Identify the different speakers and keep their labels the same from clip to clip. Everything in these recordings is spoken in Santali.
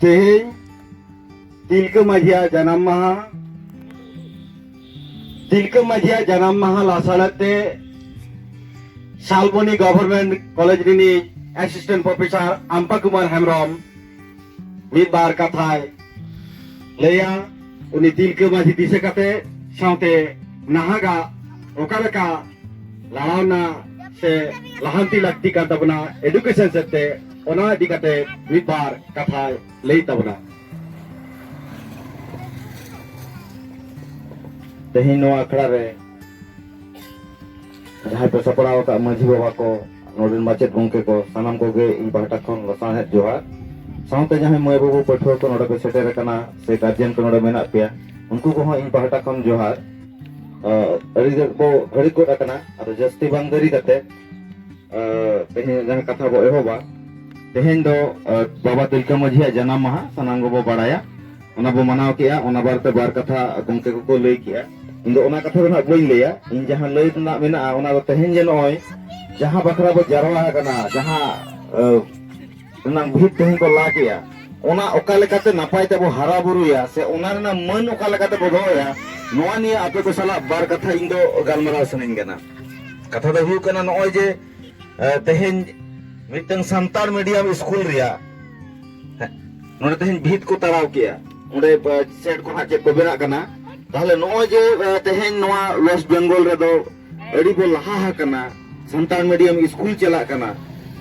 Speaker 1: ᱛᱮᱦᱮᱧ ᱛᱤᱞᱠᱟᱹ ᱢᱟᱹᱡᱷᱤᱭᱟᱜ ᱡᱟᱱᱟᱢ ᱢᱟᱦᱟ ᱛᱤᱞᱠᱟᱹ ᱢᱟᱹᱡᱷᱤᱭᱟᱜ ᱡᱟᱱᱟᱢ ᱢᱟᱦᱟ ᱞᱟᱥᱟᱲᱦᱮᱫ ᱛᱮ ᱥᱟᱞᱵᱚᱱᱤ ᱜᱚᱵᱷᱚᱨᱱᱢᱮᱱᱴ ᱠᱚᱞᱮᱡᱽ ᱨᱤᱱᱤᱡ ᱮᱥᱤᱥᱴᱮᱱᱴ ᱯᱨᱚᱯᱷᱮᱥᱟᱨ ᱟᱢᱯᱟ ᱠᱩᱢᱟᱨ ᱦᱮᱢᱵᱨᱚᱢ ᱢᱤᱫ ᱵᱟᱨ ᱠᱟᱛᱷᱟᱭ ᱞᱟᱹᱭᱟ ᱩᱱᱤ ᱛᱤᱞᱠᱟᱹ ᱢᱟᱹᱡᱷᱤ ᱫᱤᱥᱟᱹ ᱠᱟᱛᱮ ᱥᱟᱶᱛᱮ ᱱᱟᱦᱟᱜᱟᱜ ᱚᱠᱟ ᱞᱮᱠᱟ ᱞᱟᱲᱟᱣᱱᱟ ᱥᱮ ᱞᱟᱦᱟᱱᱛᱤ ᱞᱟᱹᱠᱛᱤ ᱠᱟᱱ ᱛᱟᱵᱚᱱᱟ ᱮᱰᱩᱠᱮᱥᱚᱱ ᱥᱮᱫ ᱛᱮ ᱚᱱᱟ ᱤᱫᱤ ᱠᱟᱛᱮ ᱢᱤᱫ ᱵᱟᱨ ᱠᱟᱛᱷᱟᱭ ᱞᱟᱹᱭ ᱛᱟᱵᱚᱱᱟ ᱛᱮᱦᱮᱧ ᱱᱚᱣᱟ ᱟᱠᱷᱲᱟ ᱨᱮ ᱡᱟᱦᱟᱸᱭ ᱯᱮ ᱥᱟᱯᱲᱟᱣ ᱟᱠᱟᱫ ᱢᱟᱹᱡᱷᱤ ᱵᱟᱵᱟ ᱠᱚ ᱱᱚᱰᱮᱱ ᱢᱟᱪᱮᱫ ᱜᱚᱢᱠᱮ ᱠᱚ ᱥᱟᱱᱟᱢ ᱠᱚᱜᱮ ᱤᱧ ᱯᱟᱦᱴᱟ ᱠᱷᱚᱱ ᱞᱟᱥᱟᱬᱦᱮᱫ ᱡᱚᱦᱟᱨ ᱥᱟᱶᱛᱮ ᱡᱟᱦᱟᱸᱭ ᱢᱟᱹᱭ ᱵᱟᱹᱵᱩ ᱯᱟᱹᱴᱷᱩᱣᱟᱹ ᱠᱚ ᱱᱚᱰᱮ ᱯᱮ ᱥᱮᱴᱮᱨ ᱟᱠᱟᱱᱟ ᱥᱮ ᱜᱟᱨᱡᱮᱱ ᱠᱚ ᱱᱚᱰᱮ ᱢᱮᱱᱟᱜ ᱯᱮᱭᱟ ᱩᱱᱠᱩ ᱠᱚᱦᱚᱸ ᱤᱧ ᱯᱟᱦᱴᱟ ᱠᱷᱚᱱ ᱡᱚᱦᱟᱨ ᱟᱹᱰᱤ ᱜᱟᱱ ᱵᱚ ᱜᱷᱟᱹᱲᱤᱠ ᱜᱚᱫ ᱟᱠᱟᱱᱟ ᱟᱫᱚ ᱡᱟᱹᱥᱛᱤ ᱵᱟᱝ ᱫᱮᱨᱤ ᱠᱟᱛᱮ ᱛᱮᱦᱮᱧ ᱡᱟᱦᱟᱸ ᱠᱟᱛᱷᱟ ᱵᱚ ᱮᱦᱚᱵᱟ ᱛᱮᱦᱮᱧ ᱫᱚ ᱵᱟᱵᱟ ᱛᱤᱞᱠᱟᱹ ᱢᱟᱹᱡᱷᱤᱭᱟᱜ ᱡᱟᱱᱟᱢ ᱢᱟᱦᱟ ᱥᱟᱱᱟᱢ ᱜᱮᱵᱚ ᱵᱟᱲᱟᱭᱟ ᱚᱱᱟ ᱵᱚ ᱢᱟᱱᱟᱣ ᱠᱮᱜᱼᱟ ᱚᱱᱟ ᱵᱟᱨᱮᱛᱮ ᱵᱟᱨ ᱠᱟᱛᱷᱟ ᱜᱚᱢᱠᱮ ᱠᱚᱠᱚ ᱞᱟᱹᱭ ᱠᱮᱜᱼᱟ ᱤᱧ ᱫᱚ ᱚᱱᱟ ᱠᱟᱛᱷᱟ ᱫᱚ ᱱᱟᱦᱟᱜ ᱵᱟᱹᱧ ᱞᱟᱹᱭᱟ ᱤᱧ ᱡᱟᱦᱟᱸ ᱞᱟᱹᱭ ᱨᱮᱱᱟᱜ ᱢᱮᱱᱟᱜᱼᱟ ᱚᱱᱟ ᱫᱚ ᱛᱮᱦᱮᱧ ᱡᱮ ᱱᱚᱜᱼᱚᱭ ᱡᱟᱦᱟᱸ ᱵᱟᱠᱷᱨᱟ ᱵᱚ ᱡᱟᱨᱣᱟ ᱟᱠᱟᱱᱟ ᱡᱟᱦᱟᱸ ᱨᱮᱱᱟᱝ ᱵᱷᱤᱛ ᱛᱮᱦᱮᱧ ᱠᱚ ᱞᱟ ᱠᱮᱜᱼᱟ ᱚᱱᱟ ᱚᱠᱟ ᱞᱮᱠᱟᱛᱮ ᱱᱟᱯᱟᱭ ᱛᱮᱵᱚ ᱦᱟᱨᱟ ᱵᱩᱨᱩᱭᱟ ᱥᱮ ᱚᱱᱟ ᱨᱮᱱᱟᱜ ᱢᱟᱹᱱ ᱚᱠᱟ ᱞᱮᱠᱟᱛᱮ ᱵᱚ ᱫᱚᱦᱚᱭᱟ ᱱᱚᱣᱟ ᱱᱤᱭᱟᱹ ᱟᱯᱮ ᱠᱚ ᱥᱟᱞᱟᱜ ᱵᱟᱨ ᱠᱟᱛᱷᱟ ᱤᱧ ᱫᱚ ᱜᱟᱞᱢᱟᱨᱟᱣ ᱥᱟᱱᱟᱧ ᱠᱟᱱᱟ ᱠᱟᱛᱷᱟ ᱫᱚ ᱦᱩᱭᱩᱜ ᱠᱟᱱᱟ ᱱᱚᱜᱼᱚᱭ ᱡᱮ ᱛᱮᱦᱮᱧ ᱢᱤᱫᱴᱟᱝ ᱥᱟᱱᱛᱟᱲ ᱢᱤᱰᱤᱭᱟᱢ ᱥᱠᱩᱞ ᱨᱮᱭᱟᱜ ᱱᱚᱰᱮ ᱛᱮᱦᱮᱧ ᱵᱷᱤᱛ ᱠᱚ ᱛᱟᱲᱟᱣ ᱠᱮᱜᱼᱟ ᱚᱸᱰᱮ ᱥᱮᱴ ᱠᱚ ᱦᱟᱸᱜ ᱪᱮᱫ ᱠᱚ ᱵᱮᱱᱟᱜ ᱠᱟᱱᱟ ᱛᱟᱦᱞᱮ ᱱᱚᱜᱼᱚᱭ ᱡᱮ ᱛᱮᱦᱮᱧ ᱱᱚᱣᱟ ᱣᱮᱥᱴ ᱵᱮᱝᱜᱚᱞ ᱨᱮᱫᱚ ᱟᱹᱰᱤ ᱵᱚ ᱞᱟᱦᱟ ᱟᱠᱟᱱᱟ ᱥᱟᱱᱛᱟᱲ ᱢᱤᱰᱤᱭᱟᱢ ᱥᱠᱩᱞ ᱪᱟᱞᱟᱜ ᱠᱟᱱᱟ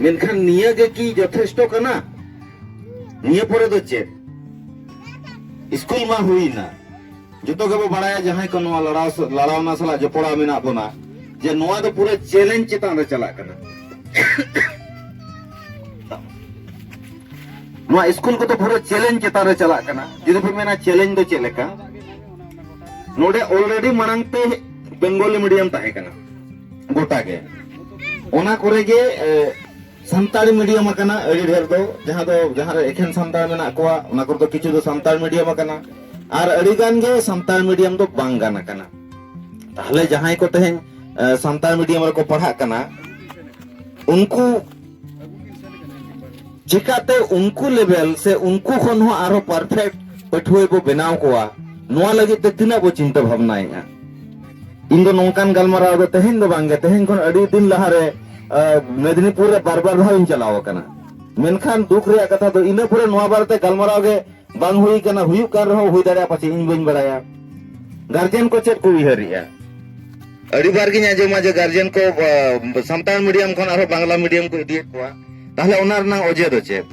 Speaker 1: ᱢᱮᱱᱠᱷᱟᱱ ᱱᱤᱭᱟᱹ ᱜᱮ ᱠᱤ ᱡᱚᱛᱷᱮᱥᱴᱚ ᱠᱟᱱᱟ ᱱᱤᱭᱟᱹ ᱯᱚᱨᱮ ᱫᱚ ᱪᱮᱫ ᱥᱠᱩᱞ ᱢᱟ ᱦᱩᱭᱱᱟ ᱡᱚᱛᱚ ᱜᱮᱵᱚ ᱵᱟᱲᱟᱭᱟ ᱡᱟᱦᱟᱸᱭ ᱠᱚ ᱱᱚᱣᱟ ᱞᱟᱲᱟᱣ ᱞᱟᱲᱟᱣᱱᱟ ᱥᱟᱞᱟᱜ ᱡᱚᱯᱚᱲᱟᱣ ᱢᱮᱱᱟᱜ ᱵᱚᱱᱟ ᱡᱮ ᱱᱚᱣᱟ ᱫᱚ ᱯᱩᱨᱟᱹ ᱪᱮᱞᱮᱧᱡᱽ ᱪᱮᱛᱟᱱ ᱨᱮ ᱪᱟᱞᱟᱜ ᱠᱟᱱᱟ ᱱᱚᱣᱟ ᱥᱠᱩᱞ ᱠᱚᱫᱚ ᱯᱩᱨᱟᱹ ᱪᱮᱞᱮᱧᱡᱽ ᱪᱮᱛᱟᱱ ᱨᱮ ᱪᱟᱞᱟᱜ ᱠᱟᱱᱟ ᱡᱩᱫᱤ ᱯᱮ ᱢᱮᱱᱟ ᱪᱮᱞᱮᱧᱡᱽ ᱫᱚ ᱪᱮᱫ ᱞᱮᱠᱟ ᱱᱚᱰᱮ ᱚᱞᱨᱮᱰᱤ ᱢᱟᱲᱟᱝ ᱛᱮ ᱵᱮᱝᱜᱚᱞᱤ ᱢᱤᱰᱤᱭᱟᱢ ᱛᱟᱦᱮᱸ ᱠᱟᱱᱟ ᱜᱚᱴᱟ ᱜᱮ ᱚᱱᱟ ᱠᱚᱨᱮ ᱜᱮ ᱥᱟᱱᱛᱟᱲᱤ ᱢᱤᱰᱤᱭᱟᱢ ᱟᱠᱟᱱᱟ ᱟᱹᱰᱤ ᱰᱷᱮᱨ ᱫᱚ ᱡᱟᱦᱟᱸ ᱫᱚ ᱡᱟᱦᱟᱸ ᱨᱮ ᱮᱠᱷᱮᱱ ᱥᱟᱱᱛᱟᱲ ᱢᱮᱱᱟᱜ ᱠᱚᱣᱟ ᱚᱱᱟ ᱠᱚᱨᱮ ᱫᱚ ᱠᱤᱪᱷᱩ ᱫᱚ ᱥᱟᱱᱛᱟᱲ ᱢᱤᱰᱤᱭᱟᱢ ᱟᱠᱟᱱᱟ ᱟᱨ ᱟᱹᱰᱤ ᱜᱟᱱ ᱜᱮ ᱥᱟᱱᱛᱟᱲ ᱢᱤᱰᱤᱭᱟᱢ ᱫᱚ ᱵᱟᱝ ᱜᱟᱱ ᱟᱠᱟᱱᱟ ᱛᱟᱦᱞᱮ ᱡᱟᱦᱟᱸᱭ ᱠᱚ ᱛᱮᱦᱮᱧ ᱥᱟᱱᱛᱟᱲ ᱢᱤᱰᱤᱭᱟᱢ ᱨᱮᱠᱚ ᱯᱟᱲᱦᱟᱜ ᱠᱟᱱᱟ ᱩᱱᱠᱩ ᱪᱤᱠᱟᱛᱮ ᱩᱱᱠᱩ ᱞᱮᱵᱮᱞ ᱥᱮ ᱩᱱᱠᱩ ᱠᱷᱚᱱ ᱦᱚᱸ ᱟᱨᱦᱚᱸ ᱯᱟᱨᱯᱷᱮᱠᱴ ᱯᱟᱹᱴᱷᱩᱣᱟᱹ ᱵᱚ ᱵᱮᱱᱟᱣ ᱠᱚᱣᱟ ᱱᱚᱣᱟ ᱞᱟᱹᱜᱤᱫ ᱛᱮ ᱛᱤᱱᱟᱹᱜ ᱵᱚ ᱪᱤᱱᱛᱟᱹ ᱵᱷᱟᱵᱽᱱᱟᱭᱮᱫᱼᱟ ᱤᱧ ᱫᱚ ᱱᱚᱝᱠᱟᱱ ᱜᱟᱞᱢᱟᱨᱟᱣ ᱫᱚ ᱛᱮᱦᱮᱧ ᱫᱚ ᱵᱟᱝᱜᱮ ᱛᱮᱦᱮᱧ ᱠᱷᱚᱱ ᱟᱹᱰᱤ ᱫᱤᱱ ᱞᱟᱦᱟᱨᱮ ᱢᱮᱫᱤᱱᱤᱯᱩᱨ ᱨᱮ ᱵᱟᱨ ᱵᱟᱨ ᱫᱷᱟᱣ ᱤᱧ ᱪᱟᱞᱟᱣ ᱟᱠᱟᱱᱟ ᱢᱮᱱᱠᱷᱟᱱ ᱫᱩᱠ ᱨᱮᱭᱟᱜ ᱠᱟᱛᱷᱟ ᱫᱚ ᱤᱱᱟᱹ ᱯᱚᱨᱮ ᱱᱚᱣᱟ ᱵᱟᱨᱮᱛᱮ ᱜᱟᱞᱢᱟᱨᱟᱣ ᱜᱮ ᱵᱟᱝ ᱦᱩᱭ ᱠᱟᱱᱟ ᱦᱩᱭᱩᱜ ᱠᱟᱱ ᱨᱮᱦᱚᱸ ᱦᱩᱭ ᱫᱟᱲᱮᱭᱟᱜᱼᱟ ᱯᱟᱪᱮ ᱤᱧ ᱵᱟᱹᱧ ᱵᱟᱲᱟᱭᱟ ᱜᱟᱨᱡᱮᱱ ᱠᱚ ᱪᱮᱫ ᱠᱚ ᱩᱭᱦᱟᱹᱨᱮᱜᱼᱟ ᱟᱹᱰᱤ ᱵᱟᱨ ᱜᱤᱧ ᱟᱸᱡᱚᱢᱟ ᱡᱮ ᱜᱟᱨᱡᱮᱱ ᱠᱚ ᱥᱟᱱᱛᱟᱲ ᱢᱤᱰᱤᱭᱟᱢ ᱠᱷᱚᱱ ᱟᱨᱦᱚᱸ ᱵᱟᱝᱞᱟ ᱢᱤᱰᱤᱭᱟᱢ ᱠᱚ ᱤᱫᱤᱭᱮᱫ ᱠᱚᱣᱟ ᱛᱟᱦᱞᱮ ᱚᱱᱟ ᱨᱮᱱᱟᱜ ᱚᱡᱮ ᱫᱚ ᱪᱮᱫ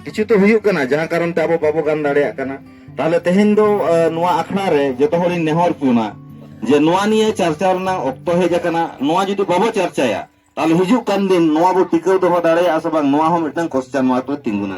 Speaker 1: ᱠᱤᱪᱷᱩ ᱛᱚ ᱦᱩᱭᱩᱜ ᱠᱟᱱᱟ ᱡᱟᱦᱟᱸ ᱠᱟᱨᱚᱱ ᱛᱮ ᱟᱵᱚ ᱵᱟᱵᱚ ᱜᱟᱱ ᱫᱟᱲᱮᱭᱟᱜ ᱠᱟᱱᱟ ᱛᱟᱦᱚᱞᱮ ᱛᱮᱦᱮᱧ ᱫᱚ ᱱᱚᱣᱟ ᱟᱠᱷᱲᱟ ᱨᱮ ᱡᱚᱛᱚ ᱦᱚᱲᱤᱧ ᱱᱮᱦᱚᱨ ᱯᱩᱱᱟ ᱡᱮ ᱱᱚᱣᱟ ᱱᱤᱭᱮ ᱪᱟᱨᱪᱟ ᱨᱮᱱᱟᱜ ᱚᱠᱛᱚ ᱦᱮᱡ ᱟᱠᱟᱱᱟ ᱱᱚᱣᱟ ᱡᱩᱫᱤ ᱵᱟᱵᱚ ᱪᱟᱨᱪᱟᱭᱟ ᱛᱟᱦᱚᱞᱮ ᱦᱤᱡᱩᱜ ᱠᱟᱱ ᱫᱤᱱ ᱱᱚᱣᱟ ᱵᱚ ᱴᱤᱠᱟᱹᱣ ᱫᱚᱦᱚ ᱫᱟᱲᱮᱭᱟᱜᱼᱟ ᱥᱮ ᱵᱟᱝ ᱱᱚᱣᱟ ᱦᱚᱸ ᱢᱤᱫᱴᱟᱝ ᱠᱚᱥᱪᱟᱱ ᱢᱟᱨᱠ ᱨᱮ ᱛᱤᱸᱜᱩᱱᱟ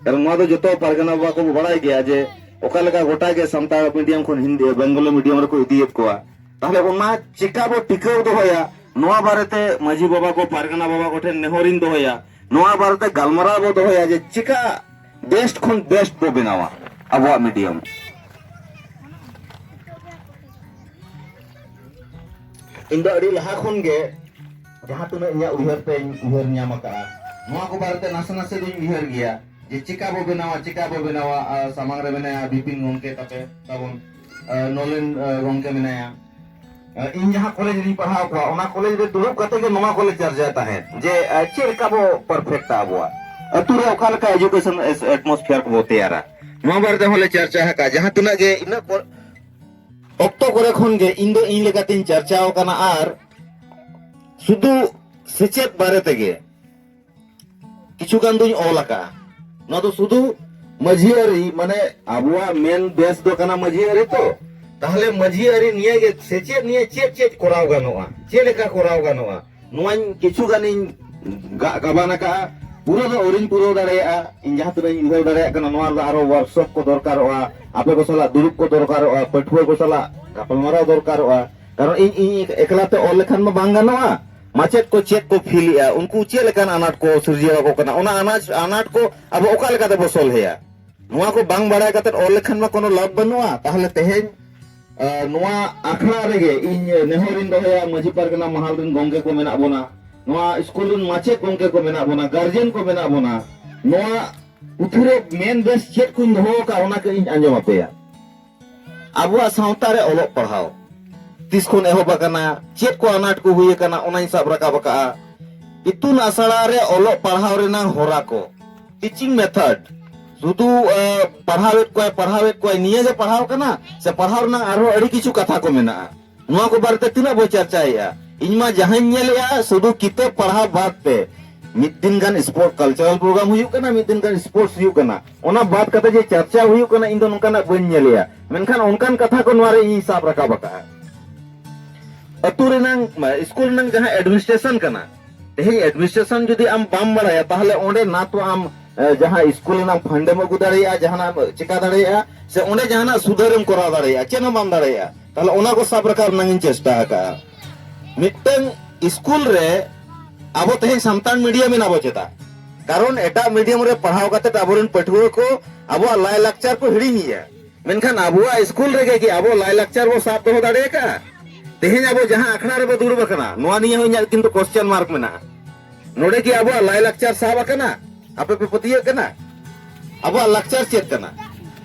Speaker 1: ᱠᱟᱨᱚᱱ ᱱᱚᱣᱟ ᱫᱚ ᱡᱚᱛᱚ ᱯᱟᱨᱜᱟᱱᱟ ᱵᱟᱵᱟ ᱠᱚ ᱵᱟᱲᱟᱭ ᱜᱮᱭᱟ ᱡᱮ ᱚᱠᱟ ᱞᱮᱠᱟ ᱜᱚᱴᱟ ᱜᱮ ᱥᱟᱱᱛᱟᱲ ᱢᱤᱰᱤᱭᱟᱢ ᱠᱷᱚᱱ ᱦᱤᱱᱫᱤ ᱵᱮᱝᱜᱚᱞᱤ ᱢᱤᱰᱤᱭᱟᱢ ᱨᱮᱠᱚ ᱤᱫᱤᱭᱮᱫ ᱠᱚᱣᱟ ᱛᱟᱦᱚᱞᱮ ᱚᱱᱟ ᱪᱮᱠᱟ ᱵᱚ ᱴᱤᱠᱟᱹᱣ ᱫᱚᱦᱚᱭᱟ ᱱᱚᱣᱟ ᱵᱟᱨᱮᱛᱮ ᱢᱟᱹᱡᱷᱤ ᱵᱟᱵᱟ ᱠᱚ ᱯᱟᱨᱜᱟᱱᱟ ᱵᱟᱵᱟ ᱠᱚᱴᱷᱮᱱ ᱱᱮᱦᱚᱨᱤᱧ ᱫᱚᱦᱚᱭᱟ ᱱᱚᱣᱟ ᱵᱟᱨᱮᱛᱮ ᱜᱟᱞᱢᱟᱨᱟᱣ ᱵᱚ ᱫᱚᱦᱚᱭᱟ ᱡᱮ ᱪᱮᱠᱟ ᱵᱮᱥᱴ ᱠᱷᱚᱱ ᱵᱮᱥᱴ ᱵᱚ ᱵᱮᱱᱟᱣᱟ ᱟᱵᱚᱣᱟᱜ ᱢᱤᱰᱤᱭᱟᱢ ᱤᱧ ᱫᱚ ᱟᱹᱰᱤ ᱞᱟᱦᱟ ᱠᱷᱚᱱ ᱜᱮ ᱡᱟᱦᱟᱸ ᱛᱤᱱᱟᱹᱜ ᱤᱧᱟᱹᱜ ᱩᱭᱦᱟᱹᱨ ᱛᱮᱧ ᱩᱭᱦᱟᱹᱨ ᱧᱟᱢ ᱟᱠᱟᱫᱼᱟ ᱱᱚᱣᱟ ᱠᱚ ᱵᱟᱨᱮᱛᱮ ᱱᱟᱥᱮ ᱱᱟᱥᱮ ᱫᱚᱧ ᱩᱭᱦᱟᱹᱨ ᱜᱮᱭᱟ ᱡᱮ ᱪᱮᱠᱟ ᱵᱚ ᱵᱮᱱᱟᱣᱟ ᱪᱮᱠᱟ ᱵᱚ ᱵᱮᱱᱟᱣᱟ ᱥᱟᱢᱟᱝ ᱨᱮ ᱢᱮᱱᱟᱭᱟ ᱵᱤᱯᱤᱱ ᱜᱚᱢᱠᱮ ᱛᱟᱯᱮ ᱛᱟᱵᱚᱱ ᱱᱚᱞᱮᱱ ᱜᱚᱢᱠᱮ ᱢᱮᱱᱟᱭᱟ ᱤᱧ ᱡᱟᱦᱟᱸ ᱠᱚᱞᱮᱡᱽ ᱨᱤᱧ ᱯᱟᱲᱦᱟᱣ ᱠᱚᱣᱟ ᱚᱱᱟ ᱠᱚᱞᱮᱡᱽ ᱨᱮ ᱫᱩᱲᱩᱵ ᱠᱟᱛᱮ ᱜᱮ ᱱᱚᱣᱟ ᱠᱚᱞᱮ ᱪᱟᱨᱪᱟᱭ ᱛᱟᱦᱮᱸᱫ ᱡᱮ ᱪᱮᱫ ᱞᱮᱠᱟ ᱵᱚ ᱯᱟᱨᱯᱷᱮᱠᱴᱟ ᱟᱵᱚᱣᱟᱜ ᱟᱹᱛᱩ ᱨᱮ ᱚᱠᱟ ᱞᱮᱠᱟ ᱮᱡᱩᱠᱮᱥᱚᱱ ᱮᱴᱢᱚᱥᱯᱷᱤᱭᱟᱨ ᱠᱚᱵᱚ ᱛᱮᱭᱟᱨᱟ ᱱᱚᱣᱟ ᱵᱟᱨᱮ ᱛᱮᱦᱚᱸ ᱞᱮ ᱪᱟᱨᱪᱟ ᱟᱠᱟᱫᱼᱟ ᱡᱟᱦᱟᱸ ᱛᱤᱱᱟᱹᱜ ᱜᱮ ᱤᱱᱟᱹᱜ ᱚᱠᱛᱚ ᱠᱚᱨᱮ ᱠᱷᱚᱱ ᱜᱮ ᱤᱧ ᱫᱚ ᱤᱧ ᱞᱮᱠᱟᱛᱤᱧ ᱪᱟᱨᱪᱟᱣ ᱟᱠᱟᱱᱟ ᱟᱨ ᱥᱩᱫᱩ ᱥᱮᱪᱮᱫ ᱵᱟᱨᱮ ᱛᱮᱜᱮ ᱠᱤᱪᱷᱩ ᱜᱟᱱ ᱫᱩᱧ ᱚᱞ ᱟᱠᱟᱜᱼᱟ ᱱᱚᱣᱟ ᱫᱚ ᱥᱩᱫᱷᱩ ᱢᱟᱹᱡᱷᱤ ᱟᱹᱨᱤ ᱢᱟᱱᱮ ᱟᱵᱚᱣᱟᱜ ᱢᱮᱱ ᱵᱮᱥ ᱫᱚ ᱠᱟᱱᱟ ᱢᱟᱹᱡᱷᱤ ᱟᱹᱨᱤ ᱛᱚ ᱛᱟᱦᱚᱞᱮ ᱢᱟᱹᱡᱷᱤ ᱟᱹᱨᱤ ᱱᱤᱭᱟᱹ ᱜᱮ ᱥᱮᱪᱮᱫ ᱱᱤᱭᱟᱹ ᱪᱮᱫ ᱪᱮᱫ ᱠᱚᱨᱟᱣ ᱜᱟᱱᱚᱜᱼᱟ ᱪᱮᱫ ᱞᱮᱠᱟ ᱠᱚᱨᱟᱣ ᱜᱟᱱᱚᱜᱼᱟ ᱱᱚᱣᱟᱧ ᱠᱤᱪᱷᱩ ᱜᱟᱱᱤᱧ ᱜᱟᱜ ᱜᱟᱵᱟᱱ ᱟᱠᱟᱜᱼᱟ ᱯᱩᱨᱟᱹ ᱫᱚ ᱟᱹᱣᱨᱤᱧ ᱯᱩᱨᱟᱹᱣ ᱫᱟᱲᱮᱭᱟᱜᱼᱟ ᱤᱧ ᱡᱟᱦᱟᱸ ᱛᱤᱱᱟᱹᱜ ᱤᱧ ᱩᱭᱦᱟᱹᱨ ᱫᱟᱲᱮᱭᱟᱜ ᱠᱟᱱᱟ ᱱᱚᱣᱟ ᱨᱮᱫᱚ ᱟᱨᱦᱚᱸ ᱣᱟᱨᱠᱥᱚᱯ ᱠᱚ ᱫᱚᱨᱠᱟᱨᱚᱜᱼᱟ ᱟᱯᱮ ᱠᱚ ᱥᱟᱞᱟᱜ ᱫᱩᱲᱩᱵ ᱠᱚ ᱫᱚᱨᱠᱟᱨᱚᱜᱼᱟ ᱯᱟᱹᱴᱷᱩᱣᱟᱹ ᱠᱚ ᱥᱟᱞᱟᱜ ᱜᱟᱯᱟᱞᱢᱟᱨᱟᱣ ᱫᱚᱨᱠᱟᱨᱚᱜᱼᱟ ᱠᱟᱨᱚᱱ ᱤᱧ ᱤᱧ ᱮᱠᱞᱟ ᱛᱮ ᱚᱞ ᱞᱮᱠᱷᱟᱱ ᱢᱟ ᱵᱟᱝ ᱜᱟᱱᱚᱜᱼᱟ ᱢᱟᱪᱮᱫ ᱠᱚ ᱪᱮᱫ ᱠᱚ ᱯᱷᱤᱞ ᱮᱫᱼᱟ ᱩᱱᱠᱩ ᱪᱮᱫ ᱞᱮᱠᱟᱱ ᱟᱱᱟᱴ ᱠᱚ ᱥᱤᱨᱡᱟᱹᱣ ᱟᱠᱚ ᱠᱟᱱᱟ ᱚᱱᱟ ᱟᱱᱟᱴ ᱟᱱᱟᱴ ᱠᱚ ᱟᱵᱚ ᱚᱠᱟ ᱞᱮᱠᱟ ᱛᱮᱵᱚ ᱥᱚᱞᱦᱮᱭᱟ ᱱᱚᱣᱟ ᱠᱚ ᱵᱟᱝ ᱵᱟᱲᱟᱭ ᱠᱟᱛᱮ ᱚᱞ ᱞᱮᱠᱷᱟᱱ ᱢᱟ ᱠᱳᱱᱳ ᱞᱟᱵᱷ ᱵᱟᱹᱱᱩᱜᱼᱟ ᱛᱟᱦᱚᱞᱮ ᱛᱮᱦᱮᱧ ᱱᱚᱣᱟ ᱟᱠᱷᱲᱟ ᱨᱮᱜᱮ ᱤᱧ ᱱᱮᱦᱚᱨᱤᱧ ᱫᱚᱦᱚᱭᱟ ᱢᱟᱹᱡᱷᱤ ᱯᱟᱨᱜᱟᱱᱟ ᱢᱟᱦᱟᱞ ᱨᱮᱱ ᱜᱚᱝᱠᱮ ᱠᱚ ᱢᱮᱱᱟᱜ ᱵᱚᱱᱟ ᱱᱚᱣᱟ ᱥᱠᱩᱞ ᱨᱮᱱ ᱢᱟᱪᱮᱫ ᱜᱚᱝᱠᱮ ᱠᱚ ᱢᱮᱱᱟᱜ ᱵᱚᱱᱟ ᱜᱟᱨᱡᱮᱱ ᱠᱚ ᱢᱮᱱᱟᱜ ᱵᱚᱱᱟ ᱱᱚᱣᱟ ᱯᱩᱛᱷᱤ ᱨᱮ ᱢᱮᱱ ᱵᱮᱥ ᱪᱮᱫ ᱠᱚᱧ ᱫᱚᱦᱚ ᱟᱠᱟᱫ ᱚᱱᱟ ᱠᱟᱹᱡ ᱤᱧ ᱟᱸᱡᱚᱢ ᱟᱯᱮᱭᱟ ᱟᱵᱚᱣᱟᱜ ᱥᱟᱶᱛᱟ ᱨᱮ ᱚᱞᱚᱜ ᱯᱟᱲᱦᱟᱣ ᱛᱤᱥ ᱠᱷᱚᱱ ᱮᱦᱚᱵ ᱟᱠᱟᱱᱟ ᱪᱮᱫ ᱠᱚ ᱟᱱᱟᱴ ᱠᱚ ᱦᱩᱭ ᱟᱠᱟᱱᱟ ᱚᱱᱟᱧ ᱥᱟᱵ ᱨᱟᱠᱟᱵ ᱟᱠᱟᱜᱼᱟ ᱤᱛᱩᱱ ᱟᱥᱲᱟ ᱨᱮ ᱚᱞᱚᱜ ᱯᱟᱲᱦᱟᱣ ᱨᱮᱱᱟᱜ ᱦᱚᱨᱟ ᱠᱚ ᱴᱤᱪᱤᱝ ᱢᱮᱛᱷᱚᱰ ᱥᱩᱫᱷᱩ ᱯᱟᱲᱦᱟᱣᱮᱫ ᱠᱚᱣᱟᱭ ᱯᱟᱲᱦᱟᱣᱮᱫ ᱠᱚᱣᱟᱭ ᱱᱤᱭᱟᱹ ᱜᱮ ᱯᱟᱲᱦᱟᱣ ᱠᱟᱱᱟ ᱥᱮ ᱯᱟᱲᱦᱟᱣ ᱨᱮᱱᱟᱜ ᱟᱨᱦᱚᱸ ᱟᱹᱰᱤ ᱠᱤᱪᱷᱩ ᱠᱟᱛᱷᱟ ᱠᱚ ᱢᱮᱱᱟᱜᱼᱟ ᱱᱚᱣᱟ ᱠᱚ ᱵᱟᱨᱮᱛᱮ ᱛᱤᱱᱟᱹᱜ ᱵᱚ ᱪᱟᱨᱪᱟᱭᱮᱫᱼᱟ ᱤᱧ ᱢᱟ ᱡᱟᱦᱟᱸᱧ ᱧᱮᱞᱮᱫᱼᱟ ᱥᱩᱫᱷᱩ ᱠᱤᱛᱟᱹᱵ ᱯᱟᱲᱦᱟᱣ ᱵᱟᱫ ᱛᱮ ᱢᱤᱫ ᱫᱤᱱ ᱜᱟᱱ ᱥᱯᱳᱨᱴ ᱠᱟᱞᱪᱟᱨᱟᱞ ᱯᱨᱳᱜᱨᱟᱢ ᱦᱩᱭᱩᱜ ᱠᱟᱱᱟ ᱢᱤᱫ ᱫᱤᱱ ᱜᱟᱱ ᱥᱯᱳᱨᱴᱥ ᱦᱩᱭᱩᱜ ᱠᱟᱱᱟ ᱚᱱᱟ ᱵᱟᱫ ᱠᱟᱛᱮ ᱡᱮ ᱪᱟᱨᱪᱟ ᱦᱩᱭᱩᱜ ᱠᱟᱱᱟ ᱤᱧ ᱫᱚ ᱱᱚᱝᱠᱟᱱᱟᱜ ᱵᱟᱹᱧ ᱧᱮᱞᱮᱫᱼᱟ ᱢᱮᱱᱠᱷᱟᱱ ᱚᱱᱠᱟᱱ ᱠᱟᱛᱷᱟ ᱠᱚ ᱱᱚᱣᱟ ᱨᱮ ᱤᱧᱤᱧ ᱥᱟᱵ ᱨᱟᱠᱟᱵ ᱟᱠᱟᱫᱼᱟ ᱟᱹᱛᱩ ᱨᱮᱱᱟᱝ ᱢᱟ, ᱥᱠᱩᱞ ᱨᱮᱱᱟᱝ ᱡᱟᱦᱟᱸ ᱮᱰᱢᱤᱱᱤᱥᱴᱨᱮᱥᱚᱱ ᱠᱟᱱᱟ ᱛᱮᱦᱮᱧ ᱮᱰᱢᱤᱱᱤᱥᱴᱨᱮᱥᱚᱱ ᱡᱩᱫᱤ ᱟᱢ ᱵᱟᱢ ᱵᱟᱲᱟᱭᱟ ᱛᱟᱦᱚᱞᱮ ᱚᱸᱰᱮ ᱱᱟ ᱛᱚ ᱟᱢ ᱡᱟᱦᱟᱸ ᱥᱠᱩᱞ ᱨᱮᱱᱟᱜ ᱯᱷᱟᱱᱰᱮᱢ ᱟᱹᱜᱩ ᱫᱟᱲᱮᱭᱟᱜᱼᱟ ᱡᱟᱦᱟᱱᱟᱜ ᱪᱮᱠᱟ ᱫᱟᱲᱮᱭᱟᱜᱼᱟ ᱥᱮ ᱚᱸᱰᱮ ᱡᱟᱦᱟᱱᱟᱜ ᱥᱩᱫᱷᱟᱹᱨᱮᱢ ᱠᱚᱨᱟᱣ ᱫᱟᱲᱮᱭᱟᱜᱼᱟ ᱪᱮᱫ ᱦᱚᱸ ᱵᱟᱢ ᱫᱟᱲᱮᱭᱟᱜᱼᱟ ᱛᱟᱦᱚᱞᱮ ᱚᱱᱟ ᱠᱚ ᱥᱟᱵ ᱨᱟᱠᱟᱵ ᱨᱮᱱᱟᱜ ᱤᱧ ᱪᱮᱥᱴᱟ ᱟᱠᱟᱜᱼᱟ ᱢᱤᱫᱴᱟᱝ ᱥᱠᱩᱞ ᱨᱮ ᱟᱵᱚ ᱛᱮᱦᱮᱧ ᱥᱟᱱᱛᱟᱲ ᱢᱤᱰᱤᱭᱟᱢ ᱮᱱᱟ ᱵᱚ ᱪᱮᱫᱟᱜ ᱠᱟᱨᱚᱱ ᱮᱴᱟᱜ ᱢᱤᱰᱤᱭᱟᱢ ᱨᱮ ᱯᱟᱲᱦᱟᱣ ᱠᱟᱛᱮ ᱟᱵᱚᱨᱮᱱ ᱯᱟᱹᱴᱷᱩᱣᱟᱹ ᱠᱚ ᱟᱵᱚᱣᱟᱜ ᱞᱟᱭᱼᱞᱟᱠᱪᱟᱨ ᱠᱚ ᱦᱤᱲᱤᱧᱮᱜᱼᱟ ᱢᱮᱱᱠᱷᱟᱱ ᱟᱵᱚᱣᱟᱜ ᱤᱥᱠᱩᱞ ᱨᱮᱜᱮ ᱠᱤ ᱟᱵᱚ ᱞᱟᱭᱞᱟᱠᱪᱟᱨ ᱵᱚ ᱥᱟᱵ ᱫᱚᱦᱚ ᱫᱟᱲᱮ ᱟᱠᱟᱫᱼᱟ ᱛᱮᱦᱮᱧ ᱟᱵᱚ ᱡᱟᱦᱟᱸ ᱟᱠᱷᱲᱟ ᱨᱮᱵᱚ ᱫᱩᱲᱩᱵ ᱟᱠᱟᱱᱟ ᱱᱚᱣᱟ ᱱᱤᱭᱮ ᱦᱚᱸ ᱤᱧᱟᱹᱜ ᱠᱤᱱᱛᱩ ᱠᱚᱥᱪᱮᱱ ᱢᱟᱨᱠ ᱢᱮᱱᱟᱜᱼᱟ ᱱᱚᱰᱮ ᱠᱤ ᱟᱵᱚᱣᱟᱜ ᱞᱟᱭᱞᱟᱠᱪᱟᱨ ᱥᱟᱵ ᱟᱠᱟᱱᱟ ᱟᱯᱮ ᱯᱮ ᱯᱟᱹᱛᱭᱟᱹᱜ ᱠᱟᱱᱟ ᱟᱵᱚᱣᱟᱜ ᱞᱟᱠᱪᱟᱨ ᱪᱮᱫ ᱠᱟᱱᱟ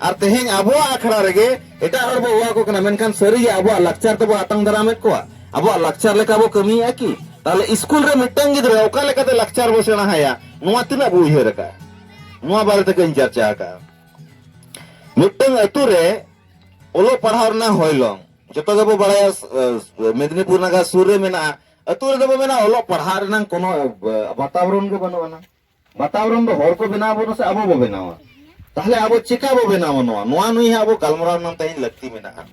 Speaker 1: ᱟᱨ ᱛᱮᱦᱮᱧ ᱟᱵᱚᱣᱟᱜ ᱟᱠᱷᱲᱟ ᱨᱮᱜᱮ ᱮᱴᱟᱜ ᱦᱚᱲ ᱵᱚ ᱦᱚᱦᱚ ᱟᱠᱚ ᱠᱟᱱᱟ ᱢᱮᱱᱠᱷᱟᱱ ᱥᱟᱹᱨᱤᱜᱮ ᱟᱵᱚᱣᱟᱜ ᱞᱟᱠᱪᱟᱨ ᱛᱮᱵᱚ ᱟᱛᱟᱝ ᱫᱟᱨᱟᱢᱮᱫ ᱠᱚᱣᱟ ᱟᱵᱚᱣᱟᱜ ᱞᱟᱠᱪᱟᱨ ᱞᱮᱠᱟ ᱵᱚ ᱠᱟᱹᱢᱤᱭᱮᱫᱼᱟ ᱠᱤ ᱛᱟᱦᱚᱞᱮ ᱤᱥᱠᱩᱞ ᱨᱮ ᱢᱤᱫᱴᱟᱝ ᱜᱤᱫᱽᱨᱟᱹ ᱚᱠᱟ ᱞᱮᱠᱟᱛᱮ ᱞᱟᱠᱪᱟᱨ ᱵᱚ ᱥᱮᱬᱟ ᱟᱭᱟ ᱱᱚᱣᱟ ᱛᱤᱱᱟᱹᱜ ᱵᱚ ᱩᱭᱦᱟᱹᱨ ᱟᱠᱟᱫᱼᱟ ᱱᱚᱣᱟ ᱵᱟᱨᱮ ᱛᱮᱜᱮᱧ ᱪᱟᱨᱪᱟ ᱟᱠᱟᱫᱼᱟ ᱢᱤᱫᱴᱟᱝ ᱟᱛᱳ ᱨᱮ ᱚᱞᱚᱜ ᱯᱟᱲᱦᱟᱣ ᱨᱮᱱᱟᱜ ᱦᱚᱭᱞᱚᱝ ᱡᱚᱛᱚ ᱜᱮᱵᱚ ᱵᱟᱲᱟᱭᱟ ᱢᱮᱫᱽᱱᱤᱯᱩᱨ ᱱᱟᱜᱟᱨ ᱥᱩᱨ ᱨᱮ ᱢᱮᱱᱟᱜᱼᱟ ᱟᱛᱳ ᱨᱮᱫᱚ ᱵᱚ ᱢᱮᱱᱟ ᱚᱞᱚᱜ ᱯᱟᱲᱦᱟᱜ ᱨᱮᱱᱟᱜ ᱠᱳᱱᱳ ᱵᱟᱛᱟᱵᱚᱨᱚᱱ ᱜᱮ ᱵᱟᱹᱱᱩᱜ ᱟᱱᱟ ᱵᱟᱛᱟᱵᱚᱨᱚᱱ ᱫᱚ ᱦᱚᱲ ᱠᱚ ᱵᱮᱱᱟᱣ ᱵᱚᱱᱟ ᱥᱮ ᱟᱵᱚ ᱵᱚ ᱵᱮᱱᱟᱣᱟ ᱛᱟᱦᱞᱮ ᱟᱵᱚ ᱪᱮᱠᱟ ᱵᱚ ᱵᱮᱱᱟᱣᱟ ᱱᱚᱣᱟ ᱱᱚᱣᱟ ᱱᱩᱭ ᱦᱟᱸᱜ ᱟᱵᱚ ᱜᱟᱞᱢᱟᱨᱟᱣ ᱨᱮᱱᱟᱜ ᱛᱮᱦᱮᱧ ᱞᱟᱹᱠᱛᱤ ᱢᱮᱱᱟᱜᱼᱟ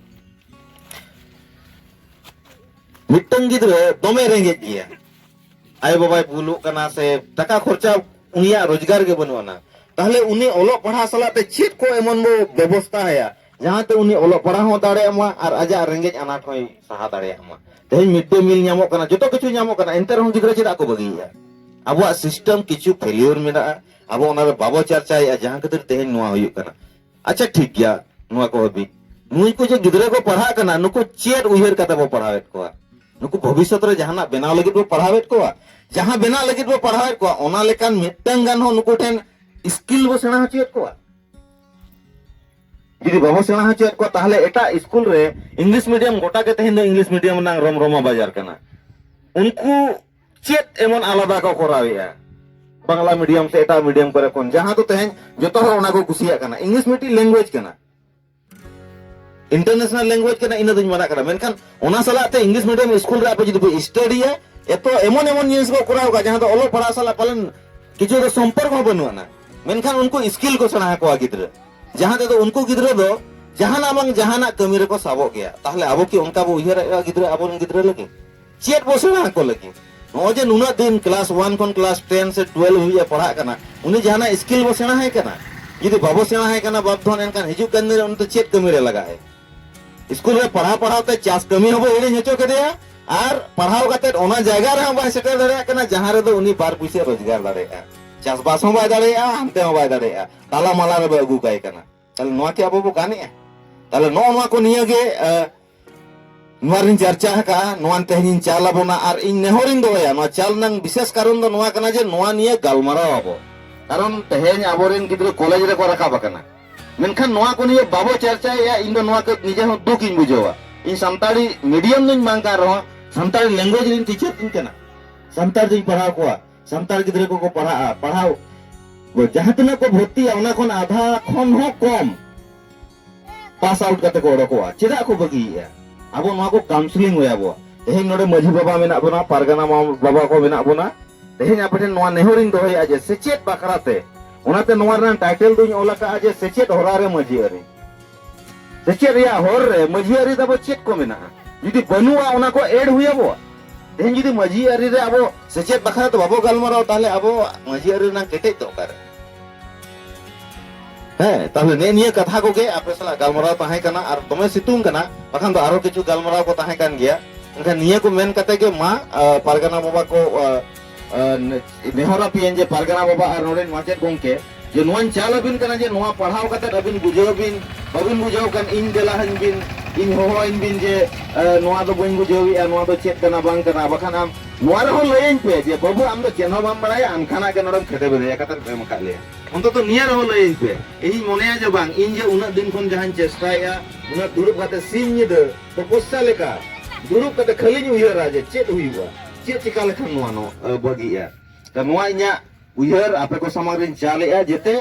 Speaker 1: ᱢᱤᱫᱴᱟᱝ ᱜᱤᱫᱽᱨᱟᱹ ᱫᱚᱢᱮ ᱨᱮᱸᱜᱮᱡ ᱜᱮᱭᱟ ᱟᱭᱳ ᱵᱟᱵᱟᱭ ᱵᱩᱞᱩᱜ ᱠᱟᱱᱟ ᱥᱮ ᱴᱟᱠᱟ ᱠᱷᱚᱨᱪᱟ ᱩᱱᱤᱭᱟᱜ ᱨᱳᱡᱽᱜᱟᱨ ᱜᱮ ᱵᱟᱹᱱᱩᱜ ᱟᱱᱟ ᱛᱟᱦᱞᱮ ᱩᱱᱤ ᱚᱞᱚᱜ ᱯᱟᱲᱦᱟᱣ ᱥᱟᱞᱟᱜ ᱛᱮ ᱪᱮᱫ ᱠᱚ ᱮᱢᱚᱱ ᱵᱚ ᱵᱮᱵᱚᱥᱛᱟ ᱟᱭᱟ ᱡᱟᱦᱟᱸ ᱛᱮ ᱩᱱᱤ ᱚᱞᱚᱜ ᱯᱟᱲᱦᱟᱣ ᱦᱚᱸ ᱫᱟᱲᱮᱭᱟᱜ ᱢᱟ ᱟᱨ ᱟᱡᱟᱜ ᱨᱮᱸᱜᱮᱡ ᱟᱱᱟᱴ ᱦᱚᱸᱭ ᱥᱟᱦᱟ ᱫᱟᱲᱮᱭᱟᱜ ᱢᱟ ᱛᱮᱦᱮᱧ ᱢᱤᱰ ᱰᱮ ᱢᱤᱞ ᱧᱟᱢᱚᱜ ᱠᱟᱱᱟ ᱡᱚᱛᱚ ᱠᱤᱪᱷᱩ ᱧᱟᱢᱚᱜ ᱠᱟᱱᱟ ᱮᱱᱛᱮ ᱨᱮᱦᱚᱸ ᱜᱤᱫᱽᱨᱟᱹ ᱪᱮᱫᱟᱜ ᱠᱚ ᱵᱟᱹᱜᱤᱭᱮᱫᱼᱟ ᱟᱵᱚᱣᱟᱜ ᱥᱤᱥᱴᱮᱢ ᱠᱤᱪᱷᱩ ᱯᱷᱮᱞᱤᱭᱚᱨ ᱢᱮᱱᱟᱜᱼᱟ ᱟᱵᱚ ᱚᱱᱟ ᱫᱚ ᱵᱟᱵᱚ ᱪᱟᱨᱪᱟᱭᱮᱫᱼᱟ ᱡᱟᱦᱟᱸ ᱠᱷᱟᱹᱛᱤᱨ ᱛᱮᱦᱮᱧ ᱱᱚᱣᱟ ᱦᱩᱭᱩᱜ ᱠᱟᱱᱟ ᱟᱪᱪᱷᱟ ᱴᱷᱤᱠ ᱜᱮᱭᱟ ᱱᱚᱣᱟ ᱠᱚ ᱦᱟᱹᱵᱤᱡ ᱱᱩᱭ ᱠᱚ ᱡᱮ ᱜᱤᱫᱽᱨᱟᱹ ᱠᱚ ᱯᱟᱲᱦᱟᱜ ᱠᱟᱱᱟ ᱱᱩᱠᱩ ᱪᱮᱫ ᱩᱭᱦᱟᱹᱨ ᱠᱟᱛᱮ ᱵᱚ ᱯᱟᱲᱦᱟᱣᱮᱫ ᱠᱚᱣᱟ ᱱᱩᱠᱩ ᱵᱷᱚᱵᱤᱥᱥᱚᱛ ᱨᱮ ᱡᱟᱦᱟᱱᱟᱜ ᱵᱮᱱᱟᱣ ᱞᱟᱹᱜᱤᱫ ᱵᱚ ᱯᱟᱲᱦᱟᱣᱮᱫ ᱠᱚᱣᱟ ᱡᱟᱦᱟᱸ ᱵᱮᱱᱟᱣ ᱞᱟᱹᱜᱤᱫ ᱵᱚ ᱯᱟᱲᱦᱟᱣᱮᱫ ᱠᱚᱣᱟ ᱚᱱᱟ ᱞᱮᱠᱟᱱ ᱢᱤᱫᱴᱟᱝ ᱜᱟᱱ ᱦᱚᱸ ᱱᱩᱠᱩ ᱴᱷᱮᱱ ᱥᱠᱤᱞ ᱵᱚ ᱥᱮᱬᱟ ᱦᱚᱪᱚᱭᱮᱫ ᱠᱚᱣᱟ ᱡᱩᱫᱤ ᱵᱟᱵᱚ ᱥᱮᱬᱟ ᱦᱚᱪᱚᱭᱮᱫ ᱠᱚᱣᱟ ᱛᱟᱦᱚᱞᱮ ᱮᱴᱟᱜ ᱥᱠᱩᱞ ᱨᱮ ᱤᱝᱞᱤᱥ ᱢᱤᱰᱤᱭᱟᱢ ᱜᱚᱴᱟ ᱜᱮ ᱛᱮᱦᱮᱧ ᱫᱚ ᱤᱝᱞᱤᱥ ᱢᱤᱰᱤᱭᱟᱢ ᱨᱮᱱᱟᱜ ᱨᱚᱢᱨᱚᱢᱟ ᱵᱟᱡᱟᱨ ᱠᱟᱱᱟ ᱩᱱᱠᱩ ᱪᱮᱫ ᱮᱢᱚᱱ ᱟᱞᱟᱫᱟ ᱠᱚ ᱠᱚᱨᱟᱣᱮᱜᱼᱟ ᱵᱟᱝᱞᱟ ᱢᱤᱰᱤᱭᱟᱢ ᱥᱮ ᱮᱴᱟᱜ ᱢᱤᱰᱤᱭᱟᱢ ᱠᱚᱨᱮ ᱠᱷᱚᱱ ᱡᱟᱦᱟᱸ ᱫᱚ ᱛᱮᱦᱮᱧ ᱡᱚᱛᱚ ᱦᱚᱲ ᱚᱱᱟ ᱠᱚ ᱠᱩᱥᱤᱭᱟᱜ ᱠᱟᱱᱟ ᱤᱝᱞᱤᱥ ᱢᱤᱫᱴᱤᱡ ᱞᱮᱝᱜᱩᱭᱮᱡᱽ ᱠᱟᱱᱟ ᱤᱱᱴᱟᱨᱱᱮᱥᱱᱟᱞ ᱞᱮᱝᱜᱩᱭᱮᱡᱽ ᱠᱟᱱᱟ ᱤᱱᱟᱹ ᱫᱚᱧ ᱢᱟᱱᱟ ᱠᱟᱱᱟ ᱢᱮᱱᱠᱷᱟᱱ ᱚᱱᱟ ᱥᱟᱞᱟᱜ ᱛᱮ ᱤᱝᱞᱤᱥ ᱢᱤᱰᱤᱭᱟᱢ ᱥᱠᱩᱞ ᱨᱮ ᱟᱯᱮ ᱡᱩᱫᱤ ᱯᱮ ᱥᱴᱟᱰᱤᱭᱟ ᱮᱛᱚ ᱮᱢᱚᱱ ᱮᱢᱚᱱ ᱡᱤᱱᱤᱥ ᱠᱚ ᱠᱚᱨᱟᱣ ᱠᱟᱜᱼᱟ ᱡᱟᱦᱟᱸ ᱫᱚ ᱚᱞᱚᱜ ᱯᱟᱲᱦᱟᱣ ᱥᱟᱞᱟᱜ ᱯᱟᱞᱮᱱ ᱠᱤᱪᱷᱩ ᱫᱚ ᱥᱚᱢᱯᱚᱨᱠ ᱦᱚᱸ ᱵᱟᱹᱱᱩᱜ ᱟᱱᱟ ᱢᱮᱱᱠᱷᱟᱱ ᱩᱱᱠᱩ ᱥᱠᱤᱞ ᱠᱚ ᱥᱮᱬᱟ ᱟᱠᱚᱣᱟ ᱜᱤᱫᱽᱨᱟᱹ ᱡᱟᱦᱟᱸ ᱛᱮᱫᱚ ᱩᱱᱠᱩ ᱜᱤᱫᱽᱨᱟᱹ ᱫᱚ ᱡᱟᱦᱟᱱᱟᱜ ᱵᱟᱝ ᱡᱟᱦᱟᱱᱟᱜ ᱠᱟᱹᱢᱤ ᱨᱮᱠᱚ ᱥᱟᱵᱚᱜ ᱜᱮᱭᱟ ᱛᱟᱦᱞᱮ ᱟᱵᱚ ᱠᱤ ᱚᱱᱠᱟ ᱵᱚ ᱩᱭᱦᱟᱹᱨᱮᱫᱼᱟ ᱜᱤᱫᱽᱨᱟᱹ ᱟᱵᱚᱨᱮᱱ ᱜᱤᱫᱽᱨᱟᱹ ᱞᱟᱹᱜᱤᱫ ᱪᱮᱫ ᱵᱚ ᱥᱮᱬᱟ ᱟᱠᱚ ᱞᱟᱹᱜᱤᱫ ᱱᱚᱜᱼᱚᱭ ᱡᱮ ᱱᱩᱱᱟᱹᱜ ᱫᱤᱱ ᱠᱞᱟᱥ ᱚᱣᱟᱱ ᱠᱷᱚᱱ ᱠᱞᱟᱥ ᱴᱮᱱ ᱥᱮ ᱴᱩᱭᱮᱞᱵᱷ ᱦᱟᱹᱵᱤᱡ ᱮ ᱯᱟᱲᱦᱟᱜ ᱠᱟᱱᱟ ᱩᱱᱤ ᱡᱟᱦᱟᱱᱟᱜ ᱥᱠᱤᱞ ᱵᱚ ᱥᱮᱬᱟ ᱟᱭ ᱠᱟᱱᱟ ᱡᱩᱫᱤ ᱵᱟᱵᱚ ᱥᱮᱬᱟ ᱟᱭ ᱠᱟᱱᱟ ᱵᱟᱯ ᱫᱷᱚᱱ ᱮᱱᱠᱷᱟᱱ ᱦᱤᱡᱩᱜ ᱠᱟᱱ ᱫᱤᱱ ᱨᱮ ᱩᱱᱤ ᱫᱚ ᱪᱮᱫ ᱠᱟᱹᱢᱤ ᱨᱮ ᱞᱟᱜᱟᱜ ᱟᱭ ᱥᱠᱩᱞ ᱨᱮ ᱯᱟᱲᱦᱟᱣ ᱯᱟᱲᱦᱟᱣ ᱛᱮ ᱪᱟᱥ ᱠᱟᱹᱢᱤ ᱦᱚᱸ ᱵᱚ ᱦᱤᱲᱤᱧ ᱦᱚᱪᱚ ᱠᱮᱫᱮᱭᱟ ᱟᱨ ᱯᱟᱲᱦᱟᱣ ᱠᱟᱛᱮ ᱚᱱᱟ ᱡᱟᱭᱜᱟ ᱨᱮ ᱦᱚᱸ ᱵᱟᱭ ᱥᱮᱴᱮᱨ ᱫᱟᱲᱮᱭᱟᱜ ᱠᱟᱱᱟ ᱡᱟᱦᱟᱸ ᱨᱮᱫᱚ ᱩᱱᱤ ᱵᱟᱨ ᱯᱩᱭᱥᱟᱹ ᱨᱳᱡᱽᱜᱟᱨ ᱫᱟᱲᱮᱭᱟᱜᱼᱟ ᱪᱟᱥᱵᱟᱥ ᱦᱚᱸ ᱵᱟᱭ ᱫᱟᱲᱮᱭᱟᱜᱼᱟ ᱦᱟᱱᱛᱮ ᱦᱚᱸ ᱵᱟᱭ ᱫᱟᱲᱮᱭᱟᱜᱼᱟ ᱛᱟᱞᱟ ᱢᱟᱞᱟ ᱨᱮᱵᱚ ᱟᱹᱜᱩ ᱠᱟᱭ ᱠᱟᱱᱟ ᱛᱟᱦᱚᱞᱮ ᱱᱚᱣᱟ ᱠᱤ ᱟᱵᱚ ᱵᱚ ᱜᱟᱱᱮᱜᱼᱟ ᱛᱟᱦᱚᱞᱮ ᱱᱚᱜᱼᱚ ᱱᱚᱣᱟ ᱠᱚ ᱱᱤᱭᱟᱹ ᱜᱮ ᱱᱚᱣᱟ ᱨᱤᱧ ᱪᱟᱨᱪᱟ ᱟᱠᱟᱜᱼᱟ ᱱᱚᱣᱟ ᱛᱮᱦᱮᱧᱤᱧ ᱪᱟᱞ ᱟᱵᱚᱱᱟ ᱟᱨ ᱤᱧ ᱱᱮᱦᱚᱨᱤᱧ ᱫᱚᱦᱚᱭᱟ ᱱᱚᱣᱟ ᱪᱟᱞ ᱨᱮᱱᱟᱜ ᱵᱤᱥᱮᱥ ᱠᱟᱨᱚᱱ ᱫᱚ ᱱᱚᱣᱟ ᱠᱟᱱᱟ ᱡᱮ ᱱᱚᱣᱟ ᱱᱤᱭᱟᱹ ᱜᱟᱞᱢᱟᱨᱟᱣ ᱟᱵᱚ ᱠᱟᱨᱚᱱ ᱛᱮᱦᱮᱧ ᱟᱵᱚᱨᱮᱱ ᱜᱤᱫᱽᱨᱟᱹ ᱠᱚᱞᱮᱡᱽ ᱨᱮᱠᱚ ᱨᱟᱠᱟᱵ ᱟᱠᱟᱱᱟ ᱢᱮᱱᱠᱷᱟᱱ ᱱᱚᱣᱟ ᱠᱚ ᱱᱤᱭᱟᱹ ᱵᱟᱵᱚ ᱪᱟᱨᱪᱟᱭᱮᱜᱼᱟ ᱤᱧ ᱫᱚ ᱱᱚᱣᱟ ᱠᱟᱹᱡ ᱱᱤᱡᱮ ᱦᱚᱸ ᱫᱩᱠ ᱤᱧ ᱵᱩᱡᱷᱟᱹᱣᱟ ᱤᱧ ᱥᱟᱱᱛᱟᱲᱤ ᱢᱤᱰᱤᱭᱟᱢ ᱫᱚᱧ ᱵᱟᱝ ᱠᱟᱱ ᱨᱮᱦᱚᱸ ᱥᱟᱱᱛᱟᱲᱤ ᱞᱮᱝᱜᱩᱭᱮᱡᱽ ᱨᱤᱧ ᱴᱤᱪᱟᱨ ᱤᱧ ᱠᱟᱱᱟ ᱥᱟᱱᱛᱟᱲ ᱫᱚᱧ ᱯᱟᱲᱦᱟᱣ ᱠᱚᱣᱟ ᱥᱟᱱᱛᱟᱲ ᱜᱤᱫᱽᱨᱟᱹ ᱠᱚᱠᱚ ᱯᱟᱲᱦᱟᱜᱼᱟ ᱯᱟᱲᱦᱟᱣ ᱡᱟᱦᱟᱸ ᱛᱤᱱᱟᱹᱜ ᱠᱚ ᱵᱷᱚᱨᱛᱤᱜᱼᱟ ᱚᱱᱟ ᱠᱷᱚᱱ ᱟᱫᱷᱟ ᱠᱷᱚᱱ ᱦᱚᱸ ᱠᱚᱢ ᱯᱟᱥ ᱟᱣᱩᱴ ᱠᱟᱛᱮ ᱠᱚ ᱚᱰᱚᱠᱚᱜᱼᱟ ᱪᱮᱫᱟᱜ ᱠᱚ ᱵᱟᱹᱜᱤᱭᱮᱫᱼᱟ ᱟᱵᱚ ᱱᱚᱣᱟ ᱠᱚ ᱠᱟᱣᱩᱱᱥᱤᱞᱤᱝ ᱦᱩᱭ ᱟᱵᱚᱣᱟ ᱛᱮᱦᱮᱧ ᱱᱚᱰᱮ ᱢᱟᱹᱡᱷᱤ ᱵᱟᱵᱟ ᱢᱮᱱᱟᱜ ᱵᱚᱱᱟ ᱯᱟᱨᱜᱟᱱᱟ ᱵᱟᱵᱟ ᱠᱚ ᱢᱮᱱᱟᱜ ᱵᱚᱱᱟ ᱛᱮᱦᱮᱧ ᱟᱯᱮ ᱴᱷᱮᱱ ᱱᱚᱣᱟ ᱱᱮᱦᱚᱨᱤᱧ ᱫᱚᱦᱚᱭᱟ ᱡᱮ ᱥᱮᱪᱮᱫ ᱵᱟᱠᱷᱨᱟᱛᱮ ᱚᱱᱟᱛᱮ ᱱᱚᱣᱟ ᱨᱮᱱᱟᱜ ᱴᱟᱭᱴᱮᱞ ᱫᱩᱧ ᱚᱞ ᱟᱠᱟᱫᱼᱟ ᱡᱮ ᱥᱮᱪᱮᱫ ᱦᱚᱨᱟ ᱨᱮ ᱢᱟᱹᱡᱷᱤ ᱟᱹᱨᱤ ᱥᱮᱪᱮᱫ ᱨᱮᱭᱟᱜ ᱦᱚᱨ ᱨᱮ ᱢᱟᱹᱡᱷᱤ ᱟᱹᱨᱤ ᱫᱚ ᱪᱮᱫ ᱠᱚ ᱢᱮᱱᱟᱜᱼᱟ ᱡᱩᱫᱤ ᱵᱟᱹᱱᱩᱜᱼᱟ ᱚᱱᱟ ᱠᱚ ᱮᱰ ᱦᱩᱭ ᱟᱵᱚᱣᱟ ᱛᱮᱦᱮᱧ ᱡᱩᱫᱤ ᱢᱟᱹᱡᱷᱤ ᱟᱹᱨᱤ ᱨᱮ ᱟᱵᱚ ᱥᱮᱪᱮᱫ ᱵᱟᱠᱷᱨᱟ ᱛᱮ ᱵᱟᱵᱚ ᱜᱟᱞᱢᱟᱨᱟᱣ ᱛᱟᱦᱞᱮ ᱟᱵᱚ ᱢᱟᱹᱡᱷᱤ ᱟᱹᱨᱤ ᱨᱮᱱᱟᱜ ᱠᱮᱴᱮᱡ ᱫᱚ ᱚᱠᱟᱨᱮ ᱦᱮᱸ ᱛᱟᱦᱞᱮ ᱱᱮ ᱱᱤᱭᱟᱹ ᱠᱟᱛᱷᱟ ᱠᱚᱜᱮ ᱟᱯᱮ ᱥᱟᱞᱟᱜ ᱜᱟᱞᱢᱟᱨᱟᱣ ᱛᱟᱦᱮᱸ ᱠᱟᱱᱟ ᱟᱨ ᱫᱚᱢᱮ ᱥᱤᱛᱩᱝ ᱠᱟᱱᱟ ᱵᱟᱠᱷᱟᱱ ᱫᱚ ᱟᱨᱚ ᱠᱤᱪᱷᱩ ᱜᱟᱞᱢᱟᱨᱟᱣ ᱠᱚ ᱛᱟᱦᱮᱸ ᱠᱟᱱ ᱜᱮᱭᱟ ᱮᱱᱠᱷᱟᱱ ᱱᱤᱭᱟᱹ ᱠᱚ ᱢᱮᱱ ᱠᱟᱛᱮ ᱜᱮ ᱢᱟ ᱯᱟᱨᱜᱟᱱᱟ ᱵᱟᱵᱟ ᱠᱚ ᱱᱮᱦᱚᱨ ᱟᱯᱮᱭᱟᱹᱧ ᱡᱮ ᱯᱟᱨᱜᱟᱱᱟ ᱵᱟᱵᱟ ᱟᱨ ᱱᱚᱰᱮᱱ ᱢᱟᱪᱮᱫ ᱜᱚᱢᱠᱮ ᱡᱮ ᱱᱚᱣᱟᱧ ᱪᱟᱞ ᱟᱹᱵᱤᱱ ᱠᱟᱱᱟ ᱡᱮ ᱱᱚᱣᱟ ᱯᱟᱲᱦᱟᱣ ᱠᱟᱛᱮ ᱟᱹᱵᱤᱱ ᱵᱩᱡᱷᱟᱹᱣ ᱵᱤᱱ ᱵᱟᱹᱵᱤᱱ ᱵᱩᱡᱷᱟᱹᱣ ᱠᱟᱱ ᱤᱧ ᱫᱮᱞᱟ ᱟᱹᱧ ᱵᱤᱱ ᱤᱧ ᱦᱚᱦᱚ ᱟᱹᱧ ᱵᱤᱱ ᱡᱮ ᱱᱚᱣᱟ ᱫᱚ ᱵᱟᱹᱧ ᱵᱩᱡᱷᱟᱹᱣᱮᱜᱼᱟ ᱱᱚᱣᱟ ᱫᱚ ᱪᱮᱫ ᱠᱟᱱᱟ ᱵᱟᱝ ᱠᱟᱱᱟ ᱵᱟᱠᱷᱟᱱ ᱟᱢ ᱱᱚᱣᱟ ᱨᱮᱦᱚᱸ ᱞᱟᱹᱭᱟᱹᱧ ᱯᱮ ᱡᱮ ᱵᱟᱹᱵᱩ ᱟᱢ ᱫᱚ ᱪᱮᱫ ᱦᱚᱸ ᱵᱟᱢ ᱵᱟᱲᱟᱭᱟ ᱟᱱᱠᱷᱟᱱᱟᱜ ᱜᱮ ᱱᱚᱰᱮᱢ ᱠᱷᱮᱫᱮ ᱵᱮᱫᱮᱭᱟ ᱠᱟᱛᱮ ᱮᱢ ᱟᱠᱟᱫ ᱞᱮᱭᱟ ᱚᱱᱛᱚᱛᱚ ᱱᱤᱭᱟᱹ ᱨᱮᱦᱚᱸ ᱞᱟᱹᱭᱟᱹᱧ ᱯᱮ ᱤᱧᱤᱧ ᱢᱚᱱᱮᱭᱟ ᱡᱮ ᱵᱟᱝ ᱤᱧ ᱡᱮ ᱩᱱᱟᱹᱜ ᱫᱤᱱ ᱠᱷᱚᱱ ᱡᱟᱦᱟᱸᱧ ᱪᱮᱥᱴᱟᱭᱮᱜᱼᱟ ᱩᱱᱟᱹᱜ ᱫᱩᱲᱩᱵ ᱠᱟᱛᱮ ᱥᱤᱧ ᱧᱤᱫᱟᱹ ᱛᱚᱯᱚᱥᱥᱟ ᱞᱮᱠᱟ ᱫᱩᱲᱩᱵ ᱠᱟᱛᱮ ᱠᱷᱟᱹᱞᱤᱧ ᱩᱭᱦᱟᱹᱨᱟ ᱡᱮ ᱪᱮᱫ ᱦᱩᱭᱩᱜᱼᱟ ᱪᱮᱫ ᱪᱤᱠᱟ ᱞᱮᱠᱷᱟᱱ ᱱᱚᱣᱟ ᱱᱚ ᱵᱟᱹᱜᱤᱜᱼᱟ ᱛᱚ ᱱᱚᱣᱟ ᱤᱧᱟᱹᱜ ᱩᱭᱦᱟᱹᱨ ᱟᱯᱮ ᱠᱚ ᱥᱟᱢᱟᱝ ᱨᱤᱧ ᱪᱟᱞᱮᱜᱼᱟ ᱡᱮᱛᱮ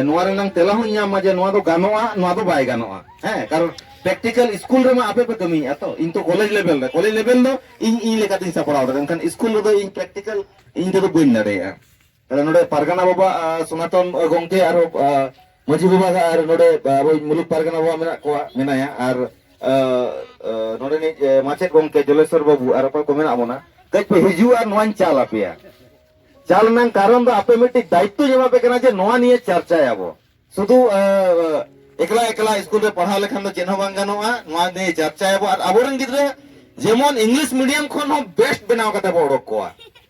Speaker 1: ᱱᱚᱣᱟ ᱨᱮᱱᱟᱝ ᱛᱮᱞᱟ ᱦᱚᱸ ᱧᱟᱢ ᱢᱟ ᱡᱮ ᱱᱚᱣᱟ ᱫᱚ ᱜᱟᱱᱚᱜᱼᱟ ᱱᱚᱣᱟ ᱫᱚ ᱵᱟᱭ ᱜᱟᱱᱚᱜᱼᱟ ᱦᱮᱸ ᱠᱟᱨᱚᱱ ᱯᱨᱮᱠᱴᱤᱠᱟᱞ ᱥᱠᱩᱞ ᱨᱮᱢᱟ ᱟᱯᱮ ᱯᱮ ᱠᱟᱹᱢᱤᱭᱮᱫᱼᱟ ᱛᱚ ᱤᱧ ᱛᱚ ᱠᱚᱞᱮᱡᱽ ᱞᱮᱵᱮᱞ ᱨᱮ ᱠᱚᱞᱮᱡᱽ ᱞᱮᱵᱮᱞ ᱫᱚ ᱤᱧ ᱤᱧ ᱞᱮᱠᱟᱛᱤᱧ ᱥᱟᱯᱲᱟᱣ ᱫᱟᱲᱮᱭᱟᱜᱼᱟ ᱢᱮᱱᱠᱷᱟᱱ ᱥᱠᱩᱞ ᱨᱮᱫᱚ ᱤᱧ ᱯᱨᱮᱠᱴᱤᱠᱟᱞ ᱤᱧ ᱛᱮᱫᱚ ᱵᱟᱹᱧ ᱫᱟᱲᱮᱭᱟᱜᱼᱟ ᱛᱟᱦᱚᱞᱮ ᱱᱚᱰᱮ ᱯᱟᱨᱜᱟᱱᱟ ᱵᱟᱵᱟ ᱥᱚᱱᱟᱛᱚᱱ ᱜᱚᱝᱠᱮ ᱟᱨ ᱢᱟᱹᱡᱷᱤ ᱵᱟᱵᱟ ᱟᱨ ᱱᱚᱰᱮ ᱟᱵᱚ ᱢᱩᱞᱩᱠ ᱯᱟᱨᱜᱟᱱᱟ ᱵᱟᱵᱟ ᱢᱮᱱᱟᱜ ᱠᱚᱣᱟ ᱢᱮᱱᱟᱭᱟ ᱟᱨ ᱱᱚᱰᱮ ᱱᱤᱡ ᱢᱟᱪᱮᱫ ᱜᱚᱝᱠᱮ ᱡᱚᱞᱮᱥᱚᱨ ᱵᱟᱵᱩ ᱟᱨ ᱚᱠᱚᱭ ᱠᱚ ᱢᱮᱱᱟᱜ ᱵᱚᱱᱟ ᱠᱟᱹᱡ ᱯᱮ ᱦᱤᱡᱩᱜᱼᱟ ᱟᱨ ᱱᱚᱣᱟᱧ ᱪᱟᱞ ᱟᱯᱮᱭᱟ ᱪᱟᱞ ᱨᱮᱱᱟᱜ ᱠᱟᱨᱚᱱ ᱫᱚ ᱟᱯᱮ ᱢᱤᱫᱴᱤᱡ ᱫᱟᱭᱤᱛᱛᱚᱧ ᱮᱢᱟ ᱯᱮ ᱠᱟᱱᱟ ᱡᱮ ᱱᱚᱣᱟ ᱱᱤᱭᱮ ᱪᱟᱨᱪᱟᱭᱟᱵᱚ ᱥᱩᱫᱷᱩ ᱮᱠᱞᱟ ᱮᱠᱞᱟ ᱥᱠᱩᱞ ᱨᱮ ᱯᱟᱲᱦᱟᱣ ᱞᱮᱠᱷᱟᱱ ᱫᱚ ᱪᱮᱫ ᱦᱚᱸ ᱵᱟᱝ ᱜᱟᱱᱚᱜᱼᱟ ᱱᱚᱣᱟ ᱱᱤᱭᱮ ᱪᱟᱨᱪᱟᱭᱟᱵᱚ ᱟᱨ ᱟᱵᱚᱨᱮᱱ ᱜᱤᱫᱽᱨᱟᱹ ᱡᱮᱢᱚᱱ ᱤᱝᱞᱤᱥ ᱢᱤᱰᱤᱭᱟᱢ ᱠᱷᱚᱱ ᱦᱚᱸ ᱵᱮᱥᱴ ᱵᱮᱱᱟᱣ ᱠᱟᱛᱮ ᱵᱚ ᱚᱰᱚᱠ ᱠᱚᱣᱟ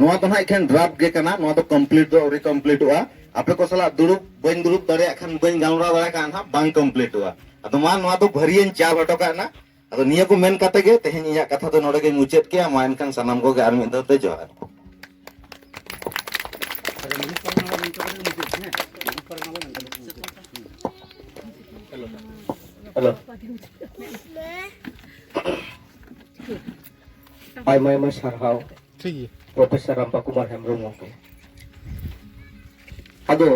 Speaker 1: ᱱᱚᱣᱟ ᱫᱚ ᱱᱟᱦᱟᱜ ᱮᱠᱷᱮᱱ ᱰᱨᱟᱯ ᱜᱮ ᱠᱟᱱᱟ ᱱᱚᱣᱟ ᱫᱚ ᱠᱚᱢᱯᱞᱤᱴ ᱫᱚ ᱟᱹᱣᱨᱤ ᱠᱚᱢᱯᱞᱤᱴᱚᱜᱼᱟ ᱟᱯᱮ ᱠᱚ ᱥᱟᱞᱟᱜ ᱫᱩᱲᱩᱵ ᱵᱟᱹᱧ ᱫᱩᱲᱩᱵ ᱫᱟᱲᱮᱭᱟᱜ ᱠᱷᱟᱱ ᱵᱟᱹᱧ ᱜᱟᱞᱢᱟᱨᱟᱣ ᱫᱟᱲᱮᱭᱟᱜ ᱠᱷᱟᱱ ᱱᱟᱦᱟᱜ ᱵᱟᱝ ᱠᱚᱢᱯᱞᱤᱴᱚᱜᱼᱟ ᱟᱫᱚ ᱢᱟ ᱱᱚᱣᱟ ᱫᱚ ᱵᱷᱟᱹᱨᱤᱭᱟᱹᱧ ᱪᱟᱞ ᱦᱚᱴᱚ ᱠᱟᱜ ᱱᱟ ᱟᱫᱚ ᱱᱤᱭᱟᱹ ᱠᱚ ᱢᱮᱱ ᱠᱟᱛᱮ ᱜᱮ ᱛᱮᱦᱮᱧ ᱤᱧᱟᱹᱜ ᱠᱟᱛᱷᱟ ᱫᱚ ᱱᱚᱰᱮ ᱜᱮ ᱢᱩᱪᱟᱹᱫ ᱠᱮᱜᱼᱟ ᱢᱟ ᱮᱱᱠᱷᱟᱱ ᱥᱟᱱᱟᱢ ᱠᱚᱜᱮ ᱟᱨ ᱢᱤᱫ ᱫᱷᱟᱣ ᱛᱮ ᱡᱚᱦᱟᱨ ᱟᱭᱢᱟ
Speaker 2: ᱟᱭᱢᱟ ᱥᱟᱨᱦᱟᱣ ᱴᱷᱤᱠ ᱜᱮᱭᱟ ᱯᱨᱚᱯᱷᱮᱥᱚᱨ ᱨᱟᱢᱯᱟ ᱠᱩᱢᱟᱨ ᱦᱮᱢᱵᱨᱚᱢ ᱜᱚᱢᱠᱮ ᱟᱫᱚ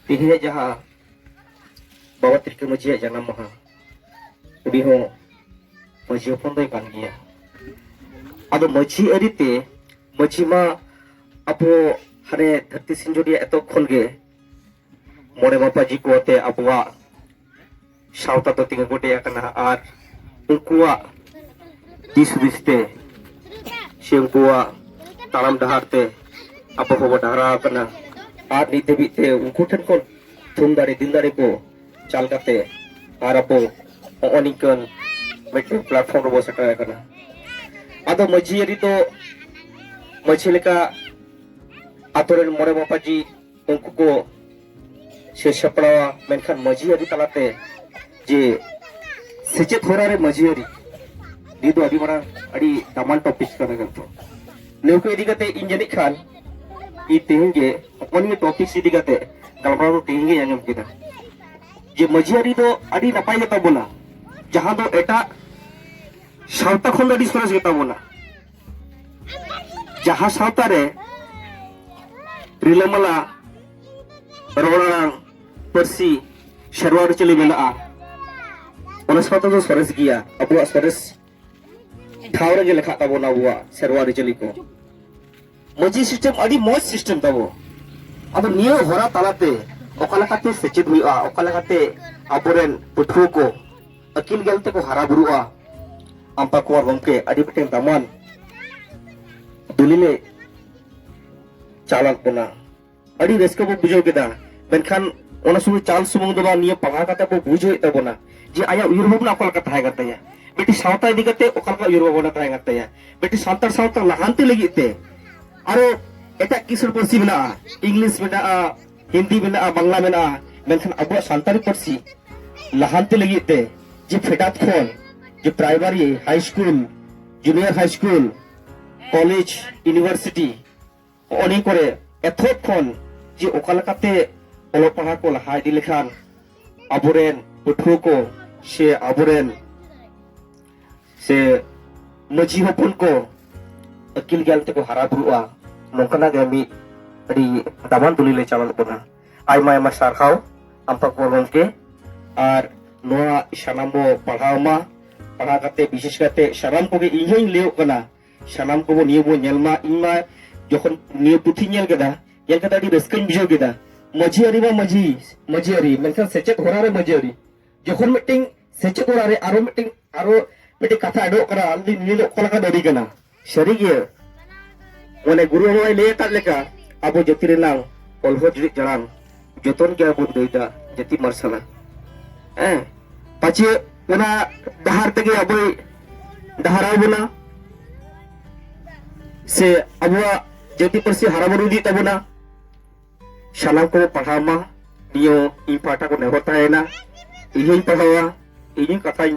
Speaker 2: ᱛᱮᱦᱮᱧᱟᱜ ᱡᱟᱦᱟᱸ ᱵᱟᱵᱟ ᱛᱤᱞᱠᱟᱹ ᱢᱟᱹᱡᱷᱤᱭᱟᱜ ᱡᱟᱱᱟᱢ ᱢᱟᱦᱟ ᱩᱱᱤ ᱦᱚᱸ ᱢᱟᱹᱡᱷᱤ ᱦᱚᱯᱚᱱ ᱫᱚᱭ ᱠᱟᱱ ᱜᱮᱭᱟ ᱟᱫᱚ ᱢᱟᱹᱡᱷᱤ ᱟᱹᱨᱤᱛᱮ ᱢᱟᱹᱡᱷᱤ ᱢᱟ ᱟᱵᱚ ᱦᱟᱱᱮ ᱫᱷᱟᱹᱨᱛᱤ ᱥᱤᱧᱡᱚᱨᱤᱭᱟ ᱮᱛᱚᱦᱚᱵ ᱠᱷᱚᱱ ᱜᱮ ᱢᱚᱬᱮ ᱢᱟᱯᱟᱡᱤ ᱠᱚ ᱟᱛᱮ ᱟᱵᱚᱣᱟᱜ ᱥᱟᱶᱛᱟ ᱫᱚ ᱛᱤᱸᱜᱩ ᱜᱚᱴᱮ ᱟᱠᱟᱱᱟ ᱟᱨ ᱩᱱᱠᱩᱣᱟᱜ ᱫᱤᱥ ᱦᱩᱫᱤᱥ ᱛᱮ ᱥᱮ ᱩᱱᱠᱩᱣᱟᱜ ᱛᱟᱲᱟᱢ ᱰᱟᱦᱟᱨ ᱛᱮ ᱟᱵᱚ ᱦᱚᱸᱵᱚ ᱰᱟᱦᱟᱨᱟ ᱟᱠᱟᱱᱟ ᱟᱨ ᱱᱤᱛ ᱫᱷᱟᱹᱵᱤᱡ ᱛᱮ ᱩᱱᱠᱩ ᱴᱷᱮᱱ ᱠᱷᱚᱱ ᱛᱷᱩᱢ ᱫᱟᱲᱮ ᱫᱤᱞ ᱫᱟᱲᱮ ᱠᱚ ᱪᱟᱞ ᱠᱟᱛᱮ ᱟᱨ ᱟᱵᱚ ᱱᱚᱜᱼᱚ ᱱᱤᱝᱠᱟᱹᱱ ᱢᱤᱫᱴᱮᱱ ᱯᱞᱟᱴᱯᱷᱚᱨᱢ ᱨᱮᱵᱚ ᱥᱮᱴᱮᱨ ᱟᱠᱟᱱᱟ ᱟᱫᱚ ᱢᱟᱹᱡᱷᱤ ᱟᱹᱨᱤ ᱫᱚ ᱢᱟᱹᱡᱷᱤ ᱞᱮᱠᱟ ᱟᱛᱳ ᱨᱮᱱ ᱢᱚᱬᱮ ᱢᱟᱯᱟᱡᱤ ᱩᱱᱠᱩ ᱠᱚ ᱥᱮ ᱥᱟᱯᱲᱟᱣᱟ ᱢᱮᱱᱠᱷᱟᱱ ᱢᱟᱹᱡᱷᱤ ᱟᱹᱨᱤ ᱛᱟᱞᱟᱛᱮ ᱡᱮ ᱥᱮᱪᱮᱫ ᱦᱚᱨᱟ ᱨᱮ ᱢᱟᱹᱡᱷᱤ ᱟᱹᱨᱤ ᱱᱤᱭᱟᱹ ᱫᱚ ᱟᱹᱰᱤ ᱢᱟᱨᱟᱝ ᱟᱹᱰᱤ ᱫᱟᱢᱟᱱ ᱴᱚᱯᱤᱠ ᱠᱟᱱᱟ ᱠᱤᱱᱛᱩ ᱱᱤᱭᱟᱹ ᱠᱚ ᱤᱫᱤ ᱠᱟᱛᱮ ᱤᱧ ᱡᱟᱹᱱᱤᱡ ᱠᱷᱟᱱ ᱤᱧ ᱛᱮᱦᱮᱧ ᱜᱮ ᱱᱚᱜᱼᱚ ᱱᱤᱭᱟᱹ ᱴᱚᱯᱤᱠ ᱤᱫᱤ ᱠᱟᱛᱮ ᱜᱟᱞᱢᱟᱨᱟᱣ ᱫᱚ ᱛᱮᱦᱮᱧ ᱜᱤᱧ ᱟᱸᱡᱚᱢ ᱠᱮᱫᱟ ᱡᱮ ᱢᱟᱹᱡᱷᱤ ᱟᱹᱨᱤ ᱫᱚ ᱟᱹᱰᱤ ᱱᱟᱯᱟᱭ ᱜᱮᱛᱟ ᱵᱚᱱᱟ ᱡᱟᱦᱟᱸ ᱫᱚ ᱮᱴᱟᱜ ᱥᱟᱶᱛᱟ ᱠᱷᱚᱱ ᱫᱚ ᱟᱹᱰᱤ ᱥᱚᱨᱮᱥ ᱜᱮᱛᱟ ᱵᱚᱱᱟ ᱡᱟᱦᱟᱸ ᱥᱟᱶᱛᱟ ᱨᱮ ᱨᱤᱞᱟᱹᱢᱟᱞᱟ ᱨᱚᱲ ᱟᱲᱟᱝ ᱯᱟᱹᱨᱥᱤ ᱥᱮᱨᱣᱟ ᱟᱹᱨᱤᱪᱟᱹᱞᱤ ᱢᱮᱱᱟᱜᱼᱟ ᱚᱱᱟ ᱥᱟᱶᱛᱟ ᱫᱚ ᱥᱚᱨᱮᱥ ᱜᱮᱭᱟ ᱟᱵᱚᱣᱟᱜ ᱥᱚᱨᱮᱥ ᱴᱷᱟᱶ ᱨᱮᱜᱮ ᱞᱮᱠᱷᱟᱜ ᱛᱟᱵᱚᱱᱟ ᱟᱵᱚᱣᱟᱜ ᱥᱮᱨᱣᱟ ᱟᱹᱨᱤᱪᱟᱹᱞᱤ ᱠᱚ ᱢᱟᱹᱡᱷᱤ ᱥᱤᱥᱴᱮᱢ ᱟᱹᱰᱤ ᱢᱚᱡᱽ ᱥᱤᱥᱴᱮᱢ ᱛᱟᱵᱚ ᱟᱫᱚ ᱱᱤᱭᱟᱹ ᱦᱚᱨᱟ ᱛᱟᱞᱟᱛᱮ ᱚᱠᱟ ᱞᱮᱠᱟᱛᱮ ᱥᱮᱪᱮᱫ ᱦᱩᱭᱩᱜᱼᱟ ᱚᱠᱟ ᱞᱮᱠᱟᱛᱮ ᱟᱵᱚᱨᱮᱱ ᱯᱟᱹᱴᱷᱩᱣᱟᱹ ᱠᱚ ᱟᱹᱠᱤᱞ ᱜᱮᱞ ᱛᱮᱠᱚ ᱦᱟᱨᱟ ᱵᱩᱨᱩᱜᱼᱟ ᱟᱢᱯᱟ ᱠᱩᱢᱟᱨ ᱜᱚᱢᱠᱮ ᱟᱹᱰᱤ ᱢᱤᱫᱴᱮᱱ ᱫᱟᱢᱟᱱ ᱫᱩᱞᱤᱞᱮ ᱪᱟᱞᱟᱜ ᱠᱟᱱᱟ ᱟᱹᱰᱤ ᱨᱟᱹᱥᱠᱟᱹ ᱵᱚ ᱵᱩᱡᱷᱟᱹᱣ ᱠᱮᱫᱟ ᱢᱮᱱᱠᱷᱟᱱ ᱚᱱᱟ ᱥᱩᱫᱷᱩ ᱪᱟᱞ ᱥᱩᱢᱩᱝ ᱫᱚ ᱵᱟᱝ ᱱᱤᱭᱟᱹ ᱯᱟᱲᱦᱟᱣ ᱠᱟᱛᱮ ᱵᱚ ᱵᱩᱡᱽ ᱦᱩᱭᱩᱜ ᱛᱟᱵᱚᱱᱟ ᱡᱮ ᱟᱭᱟᱜ ᱩᱭᱦᱟᱹᱨ ᱵᱷᱟᱵᱽᱱᱟ ᱚᱠᱟ ᱞᱮᱠᱟ ᱛᱟᱦᱮᱸ ᱠᱟᱱ ᱛᱟᱭᱟ ᱢᱤᱫᱴᱤᱡ ᱥᱟᱶᱛᱟ ᱤᱫᱤ ᱠᱟᱛᱮ ᱚᱠᱟ ᱞᱮᱠᱟ ᱩᱭᱦᱟᱹᱨ ᱵᱷᱟᱵᱽᱱᱟ ᱛᱟᱦᱮᱸ ᱠᱟᱱ ᱛᱟᱭᱟ ᱢᱤᱫᱴᱤᱡ ᱥᱟᱱᱛᱟᱲ ᱥᱟᱶᱛᱟ ᱞᱟᱦᱟᱱᱛᱤ ᱞᱟᱹᱜᱤᱫ ᱛᱮ ᱟᱨᱚ ᱮᱴᱟᱜ ᱠᱤᱥᱟᱹᱬ ᱯᱟᱹᱨᱥᱤ ᱢᱮᱱᱟᱜᱼᱟ ᱤᱝᱞᱤᱥ ᱢᱮᱱᱟᱜᱼᱟ ᱦᱤᱱᱫᱤ ᱢᱮᱱᱟᱜᱼᱟ ᱵᱟᱝᱞᱟ ᱢᱮᱱᱟᱜᱼᱟ ᱢᱮᱱᱠᱷᱟᱱ ᱟᱵᱚᱣᱟᱜ ᱥᱟᱱᱛᱟᱲᱤ ᱯᱟᱹᱨᱥᱤ ᱞᱟᱦᱟᱱᱛᱤ ᱞᱟᱹᱜᱤᱫ ᱛᱮ ᱡᱮ ᱯᱷᱮᱰᱟᱛ ᱠᱷᱚᱱ ᱡᱮ primary high school junior high school college university ᱦᱚᱸᱜᱼᱚ ᱱᱤᱭᱟᱹ ᱠᱚᱨᱮ ᱮᱛᱚᱦᱚᱵ ᱠᱷᱚᱱ ᱡᱮ ᱚᱠᱟ ᱞᱮᱠᱟᱛᱮ ᱚᱞᱚᱜ ᱯᱟᱲᱦᱟᱜ ᱠᱚ ᱞᱟᱦᱟ ᱤᱫᱤ ᱞᱮᱠᱷᱟᱱ ᱟᱵᱚᱨᱮᱱ ᱯᱟᱹᱴᱷᱩᱣᱟᱹ ᱠᱚ ᱥᱮ ᱟᱵᱚᱨᱮᱱ ᱥᱮ ᱢᱟᱹᱡᱷᱤ ᱦᱚᱯᱚᱱ ᱠᱚ ᱟᱹᱠᱤᱞ ᱜᱮᱭᱟᱱ ᱛᱮᱠᱚ ᱦᱟᱨᱟ ᱵᱩᱨᱩᱜᱼᱟ ᱱᱚᱝᱠᱟᱱᱟᱜ ᱜᱮ ᱢᱤᱫ ᱟᱹᱰᱤ ᱫᱟᱢᱟᱱ ᱫᱩᱞᱤᱞᱮ ᱪᱟᱞᱟᱣ ᱠᱟᱱᱟ ᱟᱭᱢᱟ ᱟᱭᱢᱟ ᱥᱟᱨᱦᱟᱣ ᱟᱢ ᱯᱟᱠᱚᱲ ᱜᱚᱢᱠᱮ ᱟᱨ ᱱᱚᱣᱟ ᱥᱟᱱᱟᱢ ᱵᱚ ᱯᱟᱲᱦᱟᱣ ᱢᱟ ᱯᱟᱲᱦᱟᱣ ᱠᱟᱛᱮ ᱵᱤᱥᱮᱥ ᱠᱟᱛᱮ ᱥᱟᱱᱟᱢ ᱠᱚᱜᱮ ᱤᱧ ᱦᱚᱧ ᱞᱟᱹᱭᱚᱜ ᱠᱟᱱᱟ ᱥᱟᱱᱟᱢ ᱠᱚᱵᱚ ᱱᱤᱭᱟᱹ ᱵᱚ ᱧᱮᱞ ᱢᱟ ᱤᱧ ᱢᱟ ᱡᱚᱠᱷᱚᱱ ᱱᱤᱭᱟᱹ ᱯᱩᱛᱷᱤ ᱧᱮᱞ ᱠᱮᱫᱟ ᱧᱮᱞ ᱠᱟᱛᱮ ᱟᱹᱰᱤ ᱨᱟᱹᱥᱠᱟᱹᱧ ᱵᱩᱡᱷᱟᱹᱣ ᱠᱮᱫᱟ ᱢᱟᱹᱡᱷᱤ ᱟᱹᱨᱤ ᱢᱟ ᱢᱟᱹᱡᱷᱤ ᱢᱟᱹᱡᱷᱤ ᱟᱹᱨᱤ ᱢᱮᱱᱠᱷᱟᱱ ᱥᱮᱪᱮᱫ ᱦᱚᱨᱟ ᱨᱮ ᱢᱟᱹᱡᱷᱤ ᱟᱹᱨᱤ ᱡᱚᱠᱷᱚᱱ ᱢᱤᱫᱴᱤᱝ ᱥᱮᱪᱮᱫ ᱦᱚᱨᱟ ᱨᱮ ᱟᱨᱚ ᱢᱤᱫᱴᱤᱝ ᱟᱨᱚ ᱢᱤᱫᱴᱤᱝ ᱠᱟᱛᱷᱟ ᱟᱹᱰᱚᱜ ᱠᱟᱱᱟ ᱟᱞᱤᱧ ᱱᱤᱭᱟᱹ ᱫᱚ ᱚᱠᱟ ᱞᱮᱠᱟᱱ ᱟᱹᱨᱤ ᱠᱟᱱᱟ ᱥᱟᱹᱨᱤᱜᱮ ᱢᱟᱱᱮ ᱜᱩᱨᱩ ᱵᱟᱵᱟᱭ ᱞᱟᱹᱭ ᱟᱠᱟᱫ ᱞᱮᱠᱟ ᱟᱵᱚ ᱡᱟᱹᱛᱤ ᱨᱮᱱᱟᱝ ᱚᱞᱦᱚ ᱡᱩᱨᱤᱜ ᱡᱟᱲᱟᱝ ᱡᱚᱛᱚᱱ ᱜᱮ ᱟᱵᱚ ᱞᱟᱹᱭᱫᱟ ᱡᱟᱹᱛᱤ ᱢᱟᱨᱥᱟᱞᱟ ᱦᱮᱸ ᱯᱟᱪᱮ ᱚᱱᱟ ᱰᱟᱦᱟᱨ ᱛᱮᱜᱮ ᱟᱵᱚᱭ ᱰᱟᱦᱟᱨᱟᱣ ᱵᱚᱱᱟ ᱥᱮ ᱟᱵᱚᱣᱟᱜ ᱡᱟᱹᱛᱤ ᱯᱟᱹᱨᱥᱤ ᱦᱟᱨᱟᱵᱩᱨᱩ ᱤᱫᱤ ᱛᱟᱵᱚᱱᱟ ᱥᱟᱱᱟᱢ ᱠᱚ ᱯᱟᱲᱦᱟᱣ ᱢᱟ ᱱᱤᱭᱟᱹ ᱤᱧ ᱯᱟᱦᱴᱟ ᱠᱚ ᱱᱮᱦᱚᱨ ᱛᱟᱦᱮᱱᱟ ᱤᱧ ᱦᱚᱧ ᱯᱟᱲᱦᱟᱣᱟ ᱤᱧ ᱠᱟᱛᱷᱟᱧ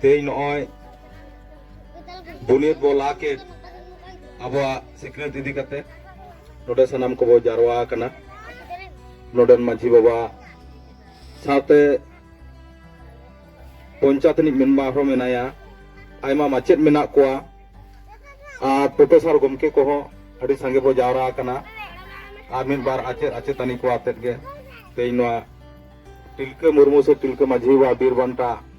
Speaker 1: ᱛᱮᱦᱮᱧ ᱱᱚᱜᱼᱚᱭ ᱵᱩᱱᱤᱭᱟᱹᱫ ᱵᱚ ᱞᱟ ᱠᱮᱫ ᱟᱵᱚᱣᱟᱜ ᱥᱤᱠᱷᱱᱟᱹᱛ ᱤᱫᱤ ᱠᱟᱛᱮ ᱱᱚᱰᱮ ᱥᱟᱱᱟᱢ ᱠᱚᱵᱚ ᱡᱟᱨᱣᱟ ᱟᱠᱟᱱᱟ ᱱᱚᱰᱮᱱ ᱢᱟᱹᱡᱷᱤ ᱵᱟᱵᱟ ᱥᱟᱶᱛᱮ ᱯᱚᱧᱪᱟᱭᱮᱛ ᱨᱤᱱᱤᱡ ᱢᱮᱢᱵᱟᱨ ᱦᱚᱸ ᱢᱮᱱᱟᱭᱟ ᱟᱭᱢᱟ ᱢᱟᱪᱮᱫ ᱢᱮᱱᱟᱜ ᱠᱚᱣᱟ ᱟᱨ ᱯᱨᱚᱯᱷᱮᱥᱟᱨ ᱜᱚᱢᱠᱮ ᱠᱚᱦᱚᱸ ᱟᱹᱰᱤ ᱥᱟᱸᱜᱮ ᱵᱚ ᱡᱟᱣᱨᱟ ᱟᱠᱟᱱᱟ ᱟᱨ ᱢᱤᱫ ᱵᱟᱨ ᱟᱪᱮᱫ ᱟᱪᱮᱛᱟᱹᱱᱤ ᱠᱚ ᱟᱛᱮᱫ ᱜᱮ ᱛᱮᱦᱮᱧ ᱱᱚᱣᱟ ᱛᱤᱞᱠᱟᱹ ᱢᱩᱨᱢᱩ ᱥᱮ ᱛᱤᱞᱠᱟᱹ ᱢᱟᱹᱡᱷᱤ ᱵᱟᱵᱟ ᱵᱤᱨ ᱵᱟᱱᱴᱟ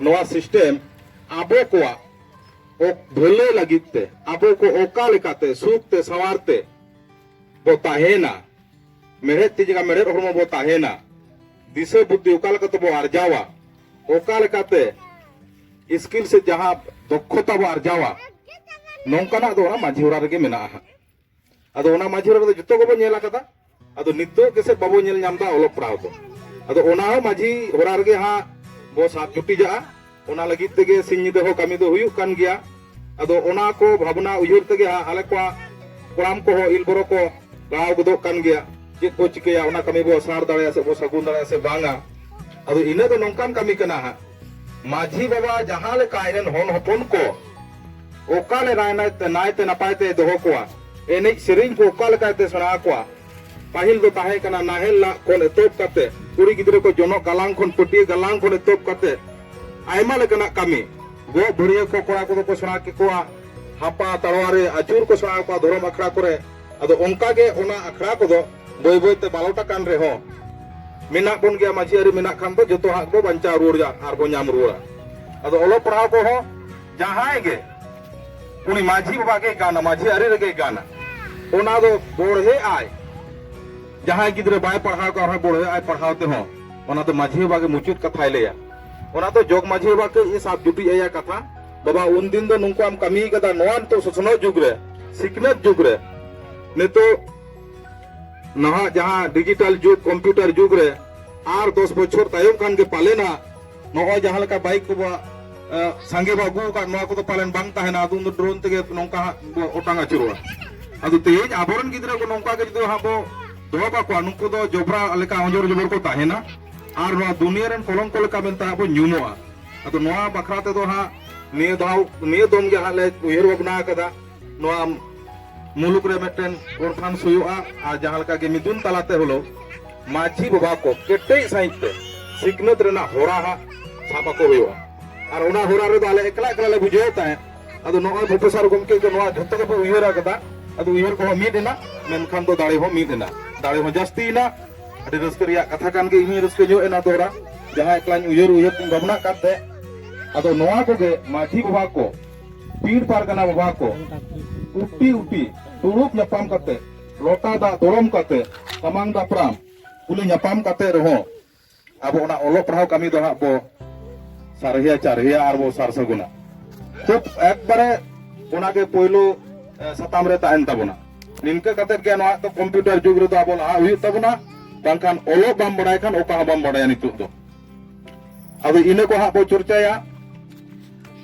Speaker 1: ᱱᱚᱣᱟ ᱥᱤᱥᱴᱮᱢ ᱟᱵᱚ ᱠᱚᱣᱟᱜ ᱵᱷᱟᱹᱞᱟᱹᱭ ᱞᱟᱹᱜᱤᱫ ᱛᱮ ᱟᱵᱚ ᱠᱚ ᱚᱠᱟ ᱞᱮᱠᱟᱛᱮ ᱥᱩᱠ ᱛᱮ ᱥᱟᱶᱟᱨ ᱛᱮ ᱵᱚ ᱛᱟᱦᱮᱱᱟ ᱢᱮᱲᱦᱮᱫ ᱛᱤ ᱡᱟᱸᱜᱟ ᱢᱮᱲᱦᱮᱫ ᱦᱚᱲᱢᱚ ᱵᱚ ᱛᱟᱦᱮᱱᱟ ᱫᱤᱥᱟᱹ ᱵᱩᱫᱽᱫᱷᱤ ᱚᱠᱟ ᱞᱮᱠᱟ ᱛᱮᱵᱚ ᱟᱨᱡᱟᱣᱟ ᱚᱠᱟ ᱞᱮᱠᱟᱛᱮ ᱥᱠᱤᱞ ᱥᱮ ᱡᱟᱦᱟᱸ ᱫᱚᱠᱷᱚᱛᱟ ᱵᱚ ᱟᱨᱡᱟᱣᱟ ᱱᱚᱝᱠᱟᱱᱟᱜ ᱫᱚ ᱚᱱᱟ ᱢᱟᱹᱡᱷᱤ ᱚᱲᱟᱜ ᱨᱮᱜᱮ ᱢᱮᱱᱟᱜᱼᱟ ᱟᱫᱚ ᱚᱱᱟ ᱢᱟᱹᱡᱷᱤ ᱨᱮᱫᱚ ᱡᱚᱛᱚ ᱜᱮᱵᱚ ᱧᱮᱞ ᱟᱠᱟᱫᱟ ᱟᱫᱚ ᱱᱤᱛᱚᱜ ᱜᱮᱥᱮ ᱵᱟᱵᱚ ᱧᱮᱞ ᱧᱟᱢ ᱫᱟ ᱚᱞᱚᱜ ᱯᱟᱲᱦᱟᱣ ᱫᱚ ᱟᱫᱚ ᱚᱱᱟ ᱦᱚᱸ ᱢᱟᱹᱡᱷᱤ ᱦᱚᱨᱟ ᱨᱮᱜᱮ ᱦᱟᱸᱜ ᱵᱚ ᱥᱟᱵ ᱡᱩᱴᱤᱡᱟᱜᱼᱟ ᱚᱱᱟ ᱞᱟᱹᱜᱤᱫ ᱛᱮᱜᱮ ᱥᱤᱧ ᱧᱤᱫᱟᱹ ᱦᱚᱸ ᱠᱟᱹᱢᱤ ᱫᱚ ᱦᱩᱭᱩᱜ ᱠᱟᱱ ᱜᱮᱭᱟ ᱟᱫᱚ ᱚᱱᱟ ᱠᱚ ᱵᱷᱟᱵᱽᱱᱟ ᱩᱭᱦᱟᱹᱨ ᱛᱮᱜᱮ ᱦᱟᱸᱜ ᱟᱞᱮ ᱠᱚᱣᱟᱜ ᱠᱚᱲᱟᱢ ᱠᱚᱦᱚᱸ ᱤᱞ ᱵᱚᱨᱚ ᱠᱚ ᱞᱟᱲᱟᱣ ᱜᱚᱫᱚᱜ ᱠᱟᱱ ᱜᱮᱭᱟ ᱪᱮᱫ ᱵᱚ ᱪᱤᱠᱟᱹᱭᱟ ᱚᱱᱟ ᱠᱟᱹᱢᱤ ᱵᱚ ᱥᱟᱨ ᱫᱟᱲᱮᱭᱟᱜᱼᱟ ᱥᱮ ᱵᱚ ᱥᱟᱹᱜᱩᱱ ᱫᱟᱲᱮᱭᱟᱜᱼᱟ ᱥᱮ ᱵᱟᱝᱟ ᱟᱫᱚ ᱤᱱᱟᱹ ᱫᱚ ᱱᱚᱝᱠᱟᱱ ᱠᱟᱹᱢᱤ ᱠᱟᱱᱟ ᱦᱟᱸᱜ ᱢᱟᱹᱡᱷᱤ ᱵᱟᱵᱟ ᱡᱟᱦᱟᱸ ᱞᱮᱠᱟ ᱟᱡ ᱨᱮᱱ ᱦᱚᱱ ᱦᱚᱯᱚᱱ ᱠᱚ ᱚᱠᱟ ᱞᱮ ᱱᱟᱭ ᱛᱮ ᱱᱟᱯᱟᱭ ᱛᱮ ᱫᱚᱦᱚ ᱠᱚᱣᱟ ᱮᱱᱮᱡ ᱥᱮᱨᱮᱧ ᱠᱚ ᱚᱠᱟ ᱞᱮᱠᱟ ᱛᱮ ᱥᱮᱬᱟ ᱟᱠᱚᱣᱟ ᱯᱟᱹᱦᱤᱞ ᱫᱚ ᱛᱟᱦᱮᱸ ᱠᱟᱱᱟ ᱱᱟᱦᱮᱞ ᱞᱟᱜ ᱠᱷᱚᱱ ᱮᱛᱚᱦᱚᱵ ᱠᱟᱛᱮ ᱠᱩᱲᱤ ᱜᱤᱫᱽᱨᱟᱹ ᱠᱚ ᱡᱚᱱᱚᱜ ᱜᱟᱞᱟᱝ ᱠᱷᱚᱱ ᱯᱟᱹᱴᱭᱟᱹ ᱜᱟᱞᱟᱝ ᱠᱷᱚᱱ ᱮᱛᱚᱦᱚᱵ ᱠᱟᱛᱮ ᱟᱭᱢᱟ ᱞᱮᱠᱟᱱᱟᱜ ᱠᱟᱹᱢᱤ ᱜᱚᱜ ᱵᱷᱟᱹᱨᱭᱟᱹ ᱠᱚ ᱠᱚᱲᱟ ᱠᱚᱫᱚ ᱠᱚ ᱥᱮᱬᱟ ᱠᱮᱠᱚᱣᱟ ᱦᱟᱯᱟ ᱛᱟᱲᱣᱟᱨᱤ ᱟᱹᱪᱩᱨ ᱠᱚ ᱥᱮᱬᱟ ᱟᱠᱚᱣᱟ ᱫᱷᱚᱨᱚᱢ ᱟᱠᱷᱲᱟ ᱠᱚᱨᱮ ᱟᱫᱚ ᱚᱱᱠᱟ ᱜᱮ ᱚᱱᱟ ᱟᱠᱷᱲᱟ ᱠᱚᱫᱚ ᱵᱟᱹᱭ ᱵᱟᱹᱭ ᱛᱮ ᱢᱟᱞᱚᱴ ᱟᱠᱟᱱ ᱨᱮᱦᱚᱸ ᱢᱮᱱᱟᱜ ᱵᱚᱱ ᱜᱮᱭᱟ ᱢᱟᱹᱡᱷᱤ ᱟᱹᱨᱤ ᱢᱮᱱᱟᱜ ᱠᱷᱟᱱ ᱫᱚ ᱡᱚᱛᱚ ᱦᱟᱸᱜ ᱵᱚ ᱵᱟᱧᱪᱟᱣ ᱨᱩᱣᱟᱹᱲᱟ ᱟᱨ ᱵᱚ ᱧᱟᱢ ᱨᱩᱣᱟᱹᱲᱟ ᱟᱫᱚ ᱚᱞᱚᱜ ᱯᱟᱲᱦᱟᱣ ᱠᱚᱦᱚᱸ ᱡᱟᱦᱟᱸᱭ ᱜᱮ ᱩᱱᱤ ᱢᱟᱹᱡᱷᱤ ᱵᱟᱵᱟ ᱜᱮ ᱜᱟᱱᱟ ᱢᱟᱹᱡᱷᱤ ᱟᱹᱨᱤ ᱨᱮᱜᱮ ᱜᱟᱱᱟ ᱚᱱᱟ ᱫᱚ ᱵᱚᱲᱦᱮ ᱟᱭ ᱡᱟᱦᱟᱸᱭ ᱜᱤᱫᱽᱨᱟᱹ ᱵᱟᱭ ᱯᱟᱲᱦᱟᱣ ᱠᱟᱱ ᱨᱮᱦᱚᱸ ᱵᱚᱲᱦᱮ ᱟᱭ ᱯᱟᱲᱦᱟᱣ ᱛᱮᱦᱚᱸ ᱚᱱᱟ ᱫᱚ ᱢᱟᱹᱡᱷᱤ ᱵᱟᱵᱟ ᱜᱮ ᱢᱩᱪᱟᱹᱫ ᱠᱟᱛᱷᱟᱭ ᱞᱟᱹᱭᱟ ᱚᱱᱟ ᱫᱚ ᱡᱚᱜᱽ ᱢᱟᱹᱡᱷᱤ ᱵᱟᱵᱟ ᱠᱟᱹᱡ ᱮ ᱥᱟᱵ ᱡᱩᱴᱤᱡ ᱟᱭᱟ ᱠᱟᱛᱷᱟ ᱵᱟᱵᱟ ᱩᱱᱫᱤᱱ ᱫᱚ ᱱᱚᱝᱠᱟ ᱮᱢ ᱠᱟᱹᱢᱤ ᱠᱟᱫᱟ ᱱᱚᱣᱟ ᱱᱤᱛᱚᱜ ᱥᱚᱥᱱᱚᱜ ᱡᱩᱜᱽ ᱨᱮ ᱥᱤᱠᱷᱱᱟᱹᱛ ᱡᱩᱜᱽ ᱨᱮ ᱱᱤᱛᱚᱜ ᱱᱟᱦᱟᱜ ᱡᱟᱦᱟᱸ ᱰᱤᱡᱤᱴᱟᱞ ᱡᱩᱜᱽ ᱠᱚᱢᱯᱤᱭᱩᱴᱟᱨ ᱡᱩᱜᱽ ᱨᱮ ᱟᱨ ᱫᱚᱥ ᱵᱚᱪᱷᱚᱨ ᱛᱟᱭᱚᱢ ᱠᱷᱟᱱ ᱜᱮ ᱯᱟᱞᱮᱱ ᱦᱟᱸᱜ ᱱᱚᱜᱼᱚᱭ ᱡᱟᱦᱟᱸ ᱞᱮᱠᱟ ᱵᱟᱭᱤᱠ ᱠᱚ ᱥᱟᱸᱜᱮ ᱵᱚ ᱟᱹᱜᱩ ᱟᱠᱟᱫ ᱱᱚᱣᱟ ᱠᱚᱫᱚ ᱯᱟᱞᱮᱱ ᱵᱟᱝ ᱛᱟᱦᱮᱱᱟ ᱟᱫᱚ ᱩᱱᱫᱚ ᱰᱨᱳᱱ ᱛᱮᱜᱮ ᱱᱚᱝᱠᱟ ᱦᱟᱸᱜ ᱵᱚ ᱚᱴᱟᱝ ᱟᱹᱪᱩᱨᱚᱜᱼᱟ ᱟᱫᱚ ᱛᱮᱦᱮᱧ ᱟᱵᱚᱨᱮᱱ ᱜᱤᱫᱽᱨᱟᱹ ᱠᱚ ᱱᱚᱝᱠᱟ ᱜᱮ ᱡᱩᱫᱤ ᱦᱟᱸᱜ ᱵᱚ ᱫᱚᱦᱚ ᱠᱟᱠᱚᱣᱟ ᱱᱩᱠᱩ ᱫᱚ ᱡᱚᱵᱽᱨᱟ ᱞᱮᱠᱟ ᱚᱸᱡᱚᱨ ᱡᱚᱵᱚᱨ ᱠᱚ ᱛᱟᱦᱮᱱᱟ ᱟᱨ ᱱᱚᱣᱟ ᱫᱩᱱᱤᱭᱟᱹ ᱨᱮᱱ ᱠᱚᱞᱚᱝᱠᱚ ᱞᱮᱠᱟ ᱢᱮᱱᱛᱮ ᱦᱟᱸᱜ ᱵᱚ ᱧᱩᱢᱚᱜᱼᱟ ᱟᱫᱚ ᱱᱚᱣᱟ ᱵᱟᱠᱷᱨᱟ ᱛᱮᱫᱚ ᱦᱟᱸᱜ ᱱᱤᱭᱟᱹ ᱫᱟᱣ ᱱᱤᱭᱟᱹ ᱫᱚᱢ ᱜᱮ ᱦᱟᱸᱜ ᱞᱮ ᱩᱭᱦᱟᱹᱨ ᱵᱷᱟᱵᱽᱱᱟ ᱟᱠᱟᱫᱟ ᱱᱚᱣᱟ ᱢᱩᱞᱩᱠ ᱨᱮ ᱢᱤᱫᱴᱮᱱ ᱠᱚᱱᱯᱷᱟᱨᱮᱱᱥ ᱦᱩᱭᱩᱜᱼᱟ ᱟᱨ ᱡᱟᱦᱟᱸ ᱞᱮᱠᱟ ᱜᱮ ᱢᱤᱫᱩᱱ ᱛᱟᱞᱟᱛᱮ ᱦᱚᱞᱚ ᱢᱟᱹᱡᱷᱤ ᱵᱟᱵᱟ ᱠᱚ ᱠᱮᱴᱮᱡ ᱥᱟᱺᱦᱤᱡ ᱛᱮ ᱥᱤᱠᱷᱱᱟᱹᱛ ᱨᱮᱱᱟᱜ ᱦᱚᱨᱟ ᱦᱟᱸᱜ ᱥᱟᱵ ᱟᱠᱚ ᱦᱩᱭᱩᱜᱼᱟ ᱟᱨ ᱚᱱᱟ ᱦᱚᱨᱟ ᱨᱮᱫᱚ ᱟᱞᱮ ᱮᱠᱞᱟ ᱮᱠᱞᱟ ᱞᱮ ᱵᱩᱡᱷᱟᱹᱣ ᱛᱟᱦᱮᱸᱫ ᱟᱫᱚ ᱱᱚᱜᱼᱚᱭ ᱯᱨᱚᱯᱷᱮᱥᱚᱨ ᱜᱚᱢᱠᱮ ᱠᱚ ᱱᱚᱣᱟ ᱡᱷᱚᱛᱚ ᱜᱮᱯᱮ ᱩᱭᱦᱟᱹᱨ ᱟᱠᱟᱫᱟ ᱟᱫᱚ ᱩᱭᱦᱟᱹᱨ ᱠᱚᱦᱚᱸ ᱢᱤᱫ ᱮᱱᱟ ᱢᱮᱱᱠᱷᱟᱱ ᱫᱚ ᱫᱟᱲᱮ ᱦᱚᱸ ᱢᱤᱫ ᱮᱱᱟ ᱫᱟᱲᱮ ᱦᱚᱸ ᱡᱟᱹᱥᱛᱤᱭᱮᱱᱟ ᱟᱹᱰᱤ ᱨᱟᱹᱥᱠᱟᱹ ᱨᱮᱭᱟᱜ ᱠᱟᱛᱷᱟ ᱠᱟᱱ ᱜᱮ ᱤᱧ ᱨᱟᱹᱥᱠᱟᱹ ᱧᱚᱜ ᱮᱱᱟ ᱫᱚᱦᱲᱟ ᱡᱟᱦᱟᱸ ᱮᱠᱞᱟᱧ ᱩᱭᱦᱟᱹᱨ ᱩᱭᱦᱟᱹᱨ ᱛᱤᱧ ᱵᱷᱟᱵᱽᱱᱟᱜ ᱠᱟᱱ ᱛᱟᱦᱮᱸᱫ ᱟᱫᱚ ᱱᱚᱣᱟ ᱠᱚᱜᱮ ᱢᱟᱹᱡᱷᱤ ᱵᱟᱵᱟ ᱠᱚ ᱯᱤᱲ ᱯᱟᱨᱜᱟᱱᱟ ᱵᱟᱵᱟ ᱠᱚ ᱩᱴᱤ ᱩᱴᱤ ᱫᱩᱲᱩᱵ ᱧᱟᱯᱟᱢ ᱠᱟᱛᱮ ᱞᱚᱴᱟ ᱫᱟᱜ ᱫᱚᱲᱚᱢ ᱠᱟᱛᱮ ᱥᱟᱢᱟᱝ ᱫᱟᱯᱨᱟᱢ ᱠᱩᱞᱤ ᱧᱟᱯᱟᱢ ᱠᱟᱛᱮ ᱨᱮᱦᱚᱸ ᱟᱵᱚ ᱚᱱᱟ ᱚᱞᱚᱜ ᱯᱟᱲᱦᱟᱣ ᱠᱟᱹᱢᱤ ᱫᱚ ᱦᱟᱸᱜ ᱵᱚ ᱥᱟᱨᱦᱤᱭᱟ
Speaker 3: ᱪᱟᱨᱦᱤᱭᱟ ᱟᱨ ᱵᱚ ᱥᱟᱨ ᱥᱟᱹᱜᱩᱱᱟ ᱠᱷᱩᱵ ᱮᱠᱵᱟᱨᱮ ᱚᱱᱟᱜᱮ ᱯᱳᱭᱞᱳ ᱥᱟᱛᱟᱢ ᱨᱮ ᱛᱟᱦᱮᱱ ᱛᱟᱵᱚᱱᱟ ᱱᱤᱝᱠᱟᱹ ᱠᱟᱛᱮ ᱜᱮ ᱱᱚᱣᱟ ᱫᱚ ᱠᱚᱢᱯᱤᱭᱩᱴᱟᱨ ᱡᱩᱜᱽ ᱨᱮᱫᱚ ᱟᱵᱚ ᱞᱟᱦᱟ ᱦᱩᱭᱩᱜ ᱛᱟᱵᱚᱱᱟ ᱵᱟᱝᱠᱷᱟᱱ ᱚᱞᱚᱜ ᱵᱟᱢ ᱵᱟᱲᱟᱭ ᱠᱷᱟᱱ ᱚᱠᱟ ᱦᱚᱸ ᱵᱟᱢ ᱵᱟᱲᱟᱭᱟ ᱱᱤᱛᱚᱜ ᱫᱚ ᱟᱫᱚ ᱤᱱᱟᱹ ᱠᱚ ᱦᱟᱸᱜ ᱵᱚ ᱪᱚᱨᱪᱟᱭᱟ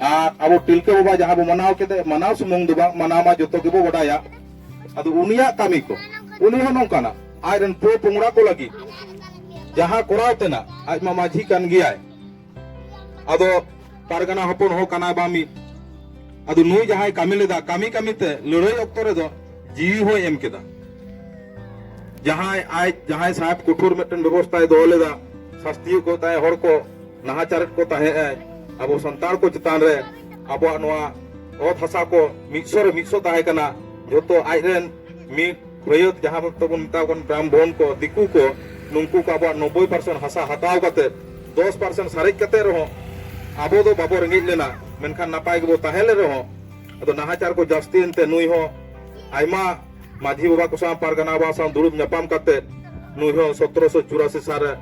Speaker 3: ᱟᱨ ᱟᱵᱚ ᱛᱤᱞᱠᱟᱹ ᱵᱟᱵᱟ ᱡᱟᱦᱟᱸ ᱵᱚ ᱢᱟᱱᱟᱣ ᱠᱮᱫᱮ ᱢᱟᱱᱟᱣ ᱥᱩᱢᱩᱝ ᱫᱚ ᱵᱟᱝ ᱢᱟᱱᱟᱣ ᱢᱟ ᱡᱚᱛᱚ ᱜᱮᱵᱚ ᱵᱟᱰᱟᱭᱟ ᱟᱫᱚ ᱩᱱᱤᱭᱟᱜ ᱠᱟᱹᱢᱤ ᱠᱚ ᱩᱱᱤ ᱦᱚᱸ ᱱᱚᱝᱠᱟᱱᱟ ᱟᱡ ᱨᱮᱱ ᱯᱚ ᱯᱚᱝᱲᱟ ᱠᱚ ᱞᱟᱹᱜᱤᱫ ᱡᱟᱦᱟᱸ ᱠᱚᱨᱟᱣ ᱛᱮᱱᱟ ᱟᱡ ᱢᱟ ᱢᱟᱹᱡᱷᱤ ᱠᱟᱱ ᱜᱮᱭᱟᱭ ᱟᱫᱚ ᱯᱟᱨᱜᱟᱱᱟ ᱦᱚᱯᱚᱱ ᱦᱚᱸ ᱠᱟᱱᱟᱭ ᱵᱟᱝ ᱢᱤᱫ ᱟᱫᱚ ᱱᱩᱭ ᱡᱟᱦᱟᱸᱭ ᱠᱟᱹᱢᱤ ᱞᱮᱫᱟ ᱠᱟᱹᱢᱤ ᱠᱟᱹᱢᱤ ᱛᱮ ᱞᱟᱹᱲᱦᱟᱹᱭ ᱚᱠᱛᱚ ᱨᱮᱫᱚ ᱡᱤᱣᱤ ᱦᱚᱸᱭ ᱮᱢ ᱠᱮᱫᱟ ᱡᱟᱦᱟᱸᱭ ᱟᱡ ᱡᱟᱦᱟᱸᱭ ᱥᱟᱦᱮᱵ ᱠᱚᱴᱷᱳᱨ ᱢᱤᱫᱴᱮᱱ ᱵᱮᱵᱚᱥᱛᱷᱟᱭ ᱫᱚᱦᱚ ᱞᱮᱫᱟ ᱥᱟᱥᱛᱤᱭᱮᱫ ᱠᱚ ᱛᱟᱦᱮᱸᱫ ᱦᱚᱲ ᱠᱚ ᱱᱟᱦᱟᱪᱟᱨᱮᱫ ᱠᱚ ᱛᱟᱦᱮᱸᱫ ᱮ ᱟᱵᱚ ᱥᱟᱱᱛᱟᱲ ᱠᱚ ᱪᱮᱛᱟᱱ ᱨᱮ ᱟᱵᱚᱣᱟᱜ ᱱᱚᱣᱟ ᱚᱛ ᱦᱟᱥᱟ ᱠᱚ ᱢᱤᱫᱥᱚ ᱨᱮ ᱢᱤᱫᱥᱚ ᱛᱟᱦᱮᱸ ᱠᱟᱱᱟ ᱡᱚᱛᱚ ᱟᱡ ᱨᱮᱱ ᱢᱤᱫ ᱯᱷᱟᱹᱭᱟᱹᱫ ᱡᱟᱦᱟᱸ ᱛᱮᱵᱚᱱ ᱢᱮᱛᱟ ᱠᱚ ᱠᱟᱱ ᱵᱨᱟᱦᱢᱚᱱ ᱠᱚ ᱫᱤᱠᱩ ᱠᱚ ᱱᱩᱝᱠᱩ ᱠᱚ ᱟᱵᱚᱣᱟᱜ ᱱᱚᱵᱽᱵᱳᱭ ᱯᱟᱨᱥᱮᱱᱴ ᱦᱟᱥᱟ ᱦᱟᱛᱟᱣ ᱠᱟᱛᱮ ᱫᱚᱥ ᱯᱟᱨᱥᱮᱱᱴ ᱥᱟᱨᱮᱡ ᱠᱟᱛᱮ ᱨᱮᱦᱚᱸ ᱟᱵᱚ ᱫᱚ ᱵᱟᱵᱚ ᱨᱮᱸᱜᱮᱡ ᱞᱮᱱᱟ ᱢᱮᱱᱠᱷᱟᱱ ᱱᱟᱯᱟᱭ ᱜᱮᱵᱚ ᱛᱟᱦᱮᱸ ᱞᱮᱱ ᱨᱮᱦᱚᱸ ᱟᱫᱚ ᱱᱟᱦᱟᱪᱟᱨ ᱠᱚ ᱡᱟᱹᱥᱛᱤᱭᱮᱱ ᱛᱮ ᱱᱩᱭ ᱦᱚᱸ ᱟᱭᱢᱟ ᱢᱟᱹᱡᱷᱤ ᱵᱟᱵᱟ ᱠᱚ ᱥᱟᱶ ᱯᱟᱨᱜᱟᱱᱟ ᱵᱟᱵᱟ ᱥᱟᱶ ᱫᱩᱲᱩᱵ ᱧᱟᱯᱟᱢ ᱠᱟᱛᱮ ᱱᱩᱭ ᱦᱚᱸ ᱥᱚᱛᱨᱚᱥᱚ ᱪᱩᱨᱟᱥᱤ ᱥᱟᱞ ᱨᱮ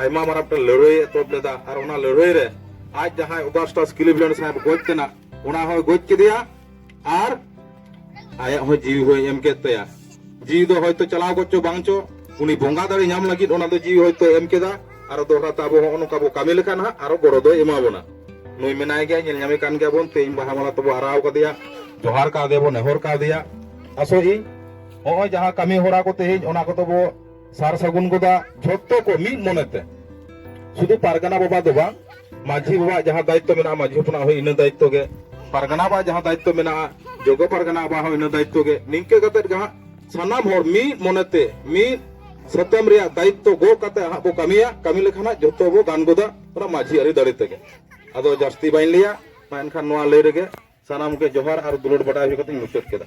Speaker 3: ᱟᱭᱢᱟ ᱢᱟᱨᱟᱝ ᱢᱤᱫᱴᱟᱝ ᱞᱟᱹᱲᱦᱟᱹᱭ ᱮᱛᱚᱦᱚᱵ ᱞᱮᱫᱟ ᱟᱨ ᱚᱱᱟ ᱞᱟᱹᱲᱦᱟᱹᱭ ᱨᱮ ᱟᱡ ᱡᱟᱦᱟᱸᱭ ᱚᱜᱟᱥᱴᱟᱥ ᱠᱤᱞᱤᱵᱞᱮᱱᱰ ᱥᱟᱦᱮᱵ ᱜᱚᱡ ᱛᱮᱱᱟᱜ ᱚᱱᱟ ᱦᱚᱸᱭ ᱜᱚᱡ ᱠᱮᱫᱮᱭᱟ ᱟᱨ ᱟᱭᱟᱜ ᱦᱚᱸ ᱡᱤᱣᱤ ᱦᱚᱸᱭ ᱮᱢ ᱠᱮᱫ ᱛᱟᱭᱟ ᱡᱤᱣᱤ ᱫᱚ ᱦᱚᱭᱛᱚ ᱪᱟᱞᱟᱣ ᱜᱚᱫ ᱪᱚ ᱵᱟᱝ ᱪᱚ ᱩᱱᱤ ᱵᱚᱸᱜᱟ ᱫᱟᱲᱮ ᱧᱟᱢ ᱞᱟᱹᱜᱤᱫ ᱚᱱᱟ ᱫᱚ ᱡᱤᱣᱤ ᱦᱚᱭᱛᱚ ᱮᱢ ᱠᱮᱫᱟ ᱟᱨ ᱫᱚᱦᱲᱟ ᱛᱮ ᱟᱵᱚ ᱦᱚᱸ ᱱᱚᱝᱠᱟ ᱵᱚ ᱠᱟᱹᱢᱤ ᱞᱮᱠᱷᱟᱱ ᱦᱟᱸᱜ ᱟᱨᱚ ᱜᱚᱲᱚ ᱫᱚᱭ ᱮᱢᱟ ᱵᱚᱱᱟ ᱱᱩᱭ ᱢᱮᱱᱟᱭ ᱜᱮᱭᱟ ᱧᱮᱞ ᱧᱟᱢᱮ ᱠᱟᱱ ᱜᱮᱭᱟ ᱵᱚᱱ ᱛᱮᱦᱮᱧ ᱵᱟᱦᱟ ᱢᱟᱞᱟ ᱛᱮᱵᱚ ᱟᱨᱟᱣ ᱠᱟᱫᱮᱭᱟ ᱡᱚᱦᱟᱨ ᱠᱟᱣᱫᱮᱭᱟ ᱵᱚ ᱱᱮᱦᱚᱨ ᱠᱟᱣᱫᱮᱭᱟ ᱟᱥᱚᱜ ᱤᱧ ᱱᱚᱜᱼᱚᱭ ᱡᱟᱦᱟᱸ ᱠᱟᱹᱢᱤ ᱦᱚᱨᱟ ᱠᱚ ᱛᱮᱦᱮᱧ ᱚᱱᱟ ᱠᱚᱫᱚ ᱵᱚ ᱥᱟᱨ ᱥᱟᱹᱜᱩᱱ ᱜᱚᱫᱟ ᱡᱷᱚᱛᱚ ᱠᱚ ᱢᱤᱫ ᱢᱚᱱᱮᱛᱮ ᱥᱩᱫᱷᱩ ᱯᱟᱨᱜᱟᱱᱟ ᱵᱟᱵᱟ ᱫᱚ ᱵᱟᱝ ᱢᱟᱹᱡᱷᱤ ᱵᱟᱵᱟ ᱡᱟᱦᱟᱸ ᱫᱟᱭᱤᱛᱛᱚ ᱢᱮᱱᱟᱜᱼᱟ ᱢᱟᱹᱡᱷᱤ ᱦᱚᱯᱚᱱᱟᱜ ᱦᱚᱸ ᱤᱱᱟᱹ ᱫᱟᱭᱤᱛᱛᱚ ᱜᱮ ᱯᱟᱨᱜᱟᱱᱟ ᱵᱟᱵᱟ ᱡᱟᱦᱟᱸ ᱫᱟᱭᱤᱛᱛᱚ ᱢᱮᱱᱟᱜᱼᱟ ᱡᱚᱜᱚ ᱯᱟᱨᱜᱟᱱᱟ ᱵᱟᱵᱟ ᱦᱚᱸ ᱤᱱᱟᱹ ᱫᱟᱭᱤᱛᱛᱚ ᱜᱮ ᱱᱤᱝᱠᱟᱹ ᱠᱟᱛᱮ ᱜᱮ ᱦᱟᱸᱜ ᱥᱟᱱᱟᱢ ᱦᱚᱲ ᱢᱤᱫ ᱢᱚᱱᱮᱛᱮ ᱢᱤᱫ ᱥᱟᱛᱟᱢ ᱨᱮᱭᱟᱜ ᱫᱟᱭᱤᱛᱛᱚ ᱜᱚ ᱠᱟᱛᱮ ᱦᱟᱸᱜ ᱵᱚ ᱠᱟᱹᱢᱤᱭᱟ ᱠᱟᱹᱢᱤ ᱞᱮᱠᱷᱟᱱ ᱦᱟᱸᱜ ᱡᱷᱚᱛᱚ ᱵᱚ ᱜᱟᱱ ᱜᱚᱫᱟ ᱚᱱᱟ ᱢᱟᱹᱡᱷᱤ ᱟᱹᱨᱤ ᱫᱟᱲᱮ ᱛᱮᱜᱮ ᱟᱫᱚ ᱡᱟᱹᱥᱛᱤ ᱵᱟᱹᱧ ᱞᱟᱹᱭᱟ ᱢᱟ ᱮᱱᱠᱷᱟᱱ ᱱᱚᱣᱟ ᱞᱟᱹᱭ ᱨᱮᱜᱮ ᱥᱟᱱᱟᱢ ᱜᱮ ᱡᱚᱦᱟᱨ ᱟᱨ ᱫᱩᱞᱟᱹᱲ ᱵᱟᱰᱟᱭ ᱦᱩᱭ ᱠᱟᱛᱮᱧ ᱢᱩᱪᱟᱹᱫ ᱠᱮᱫᱟ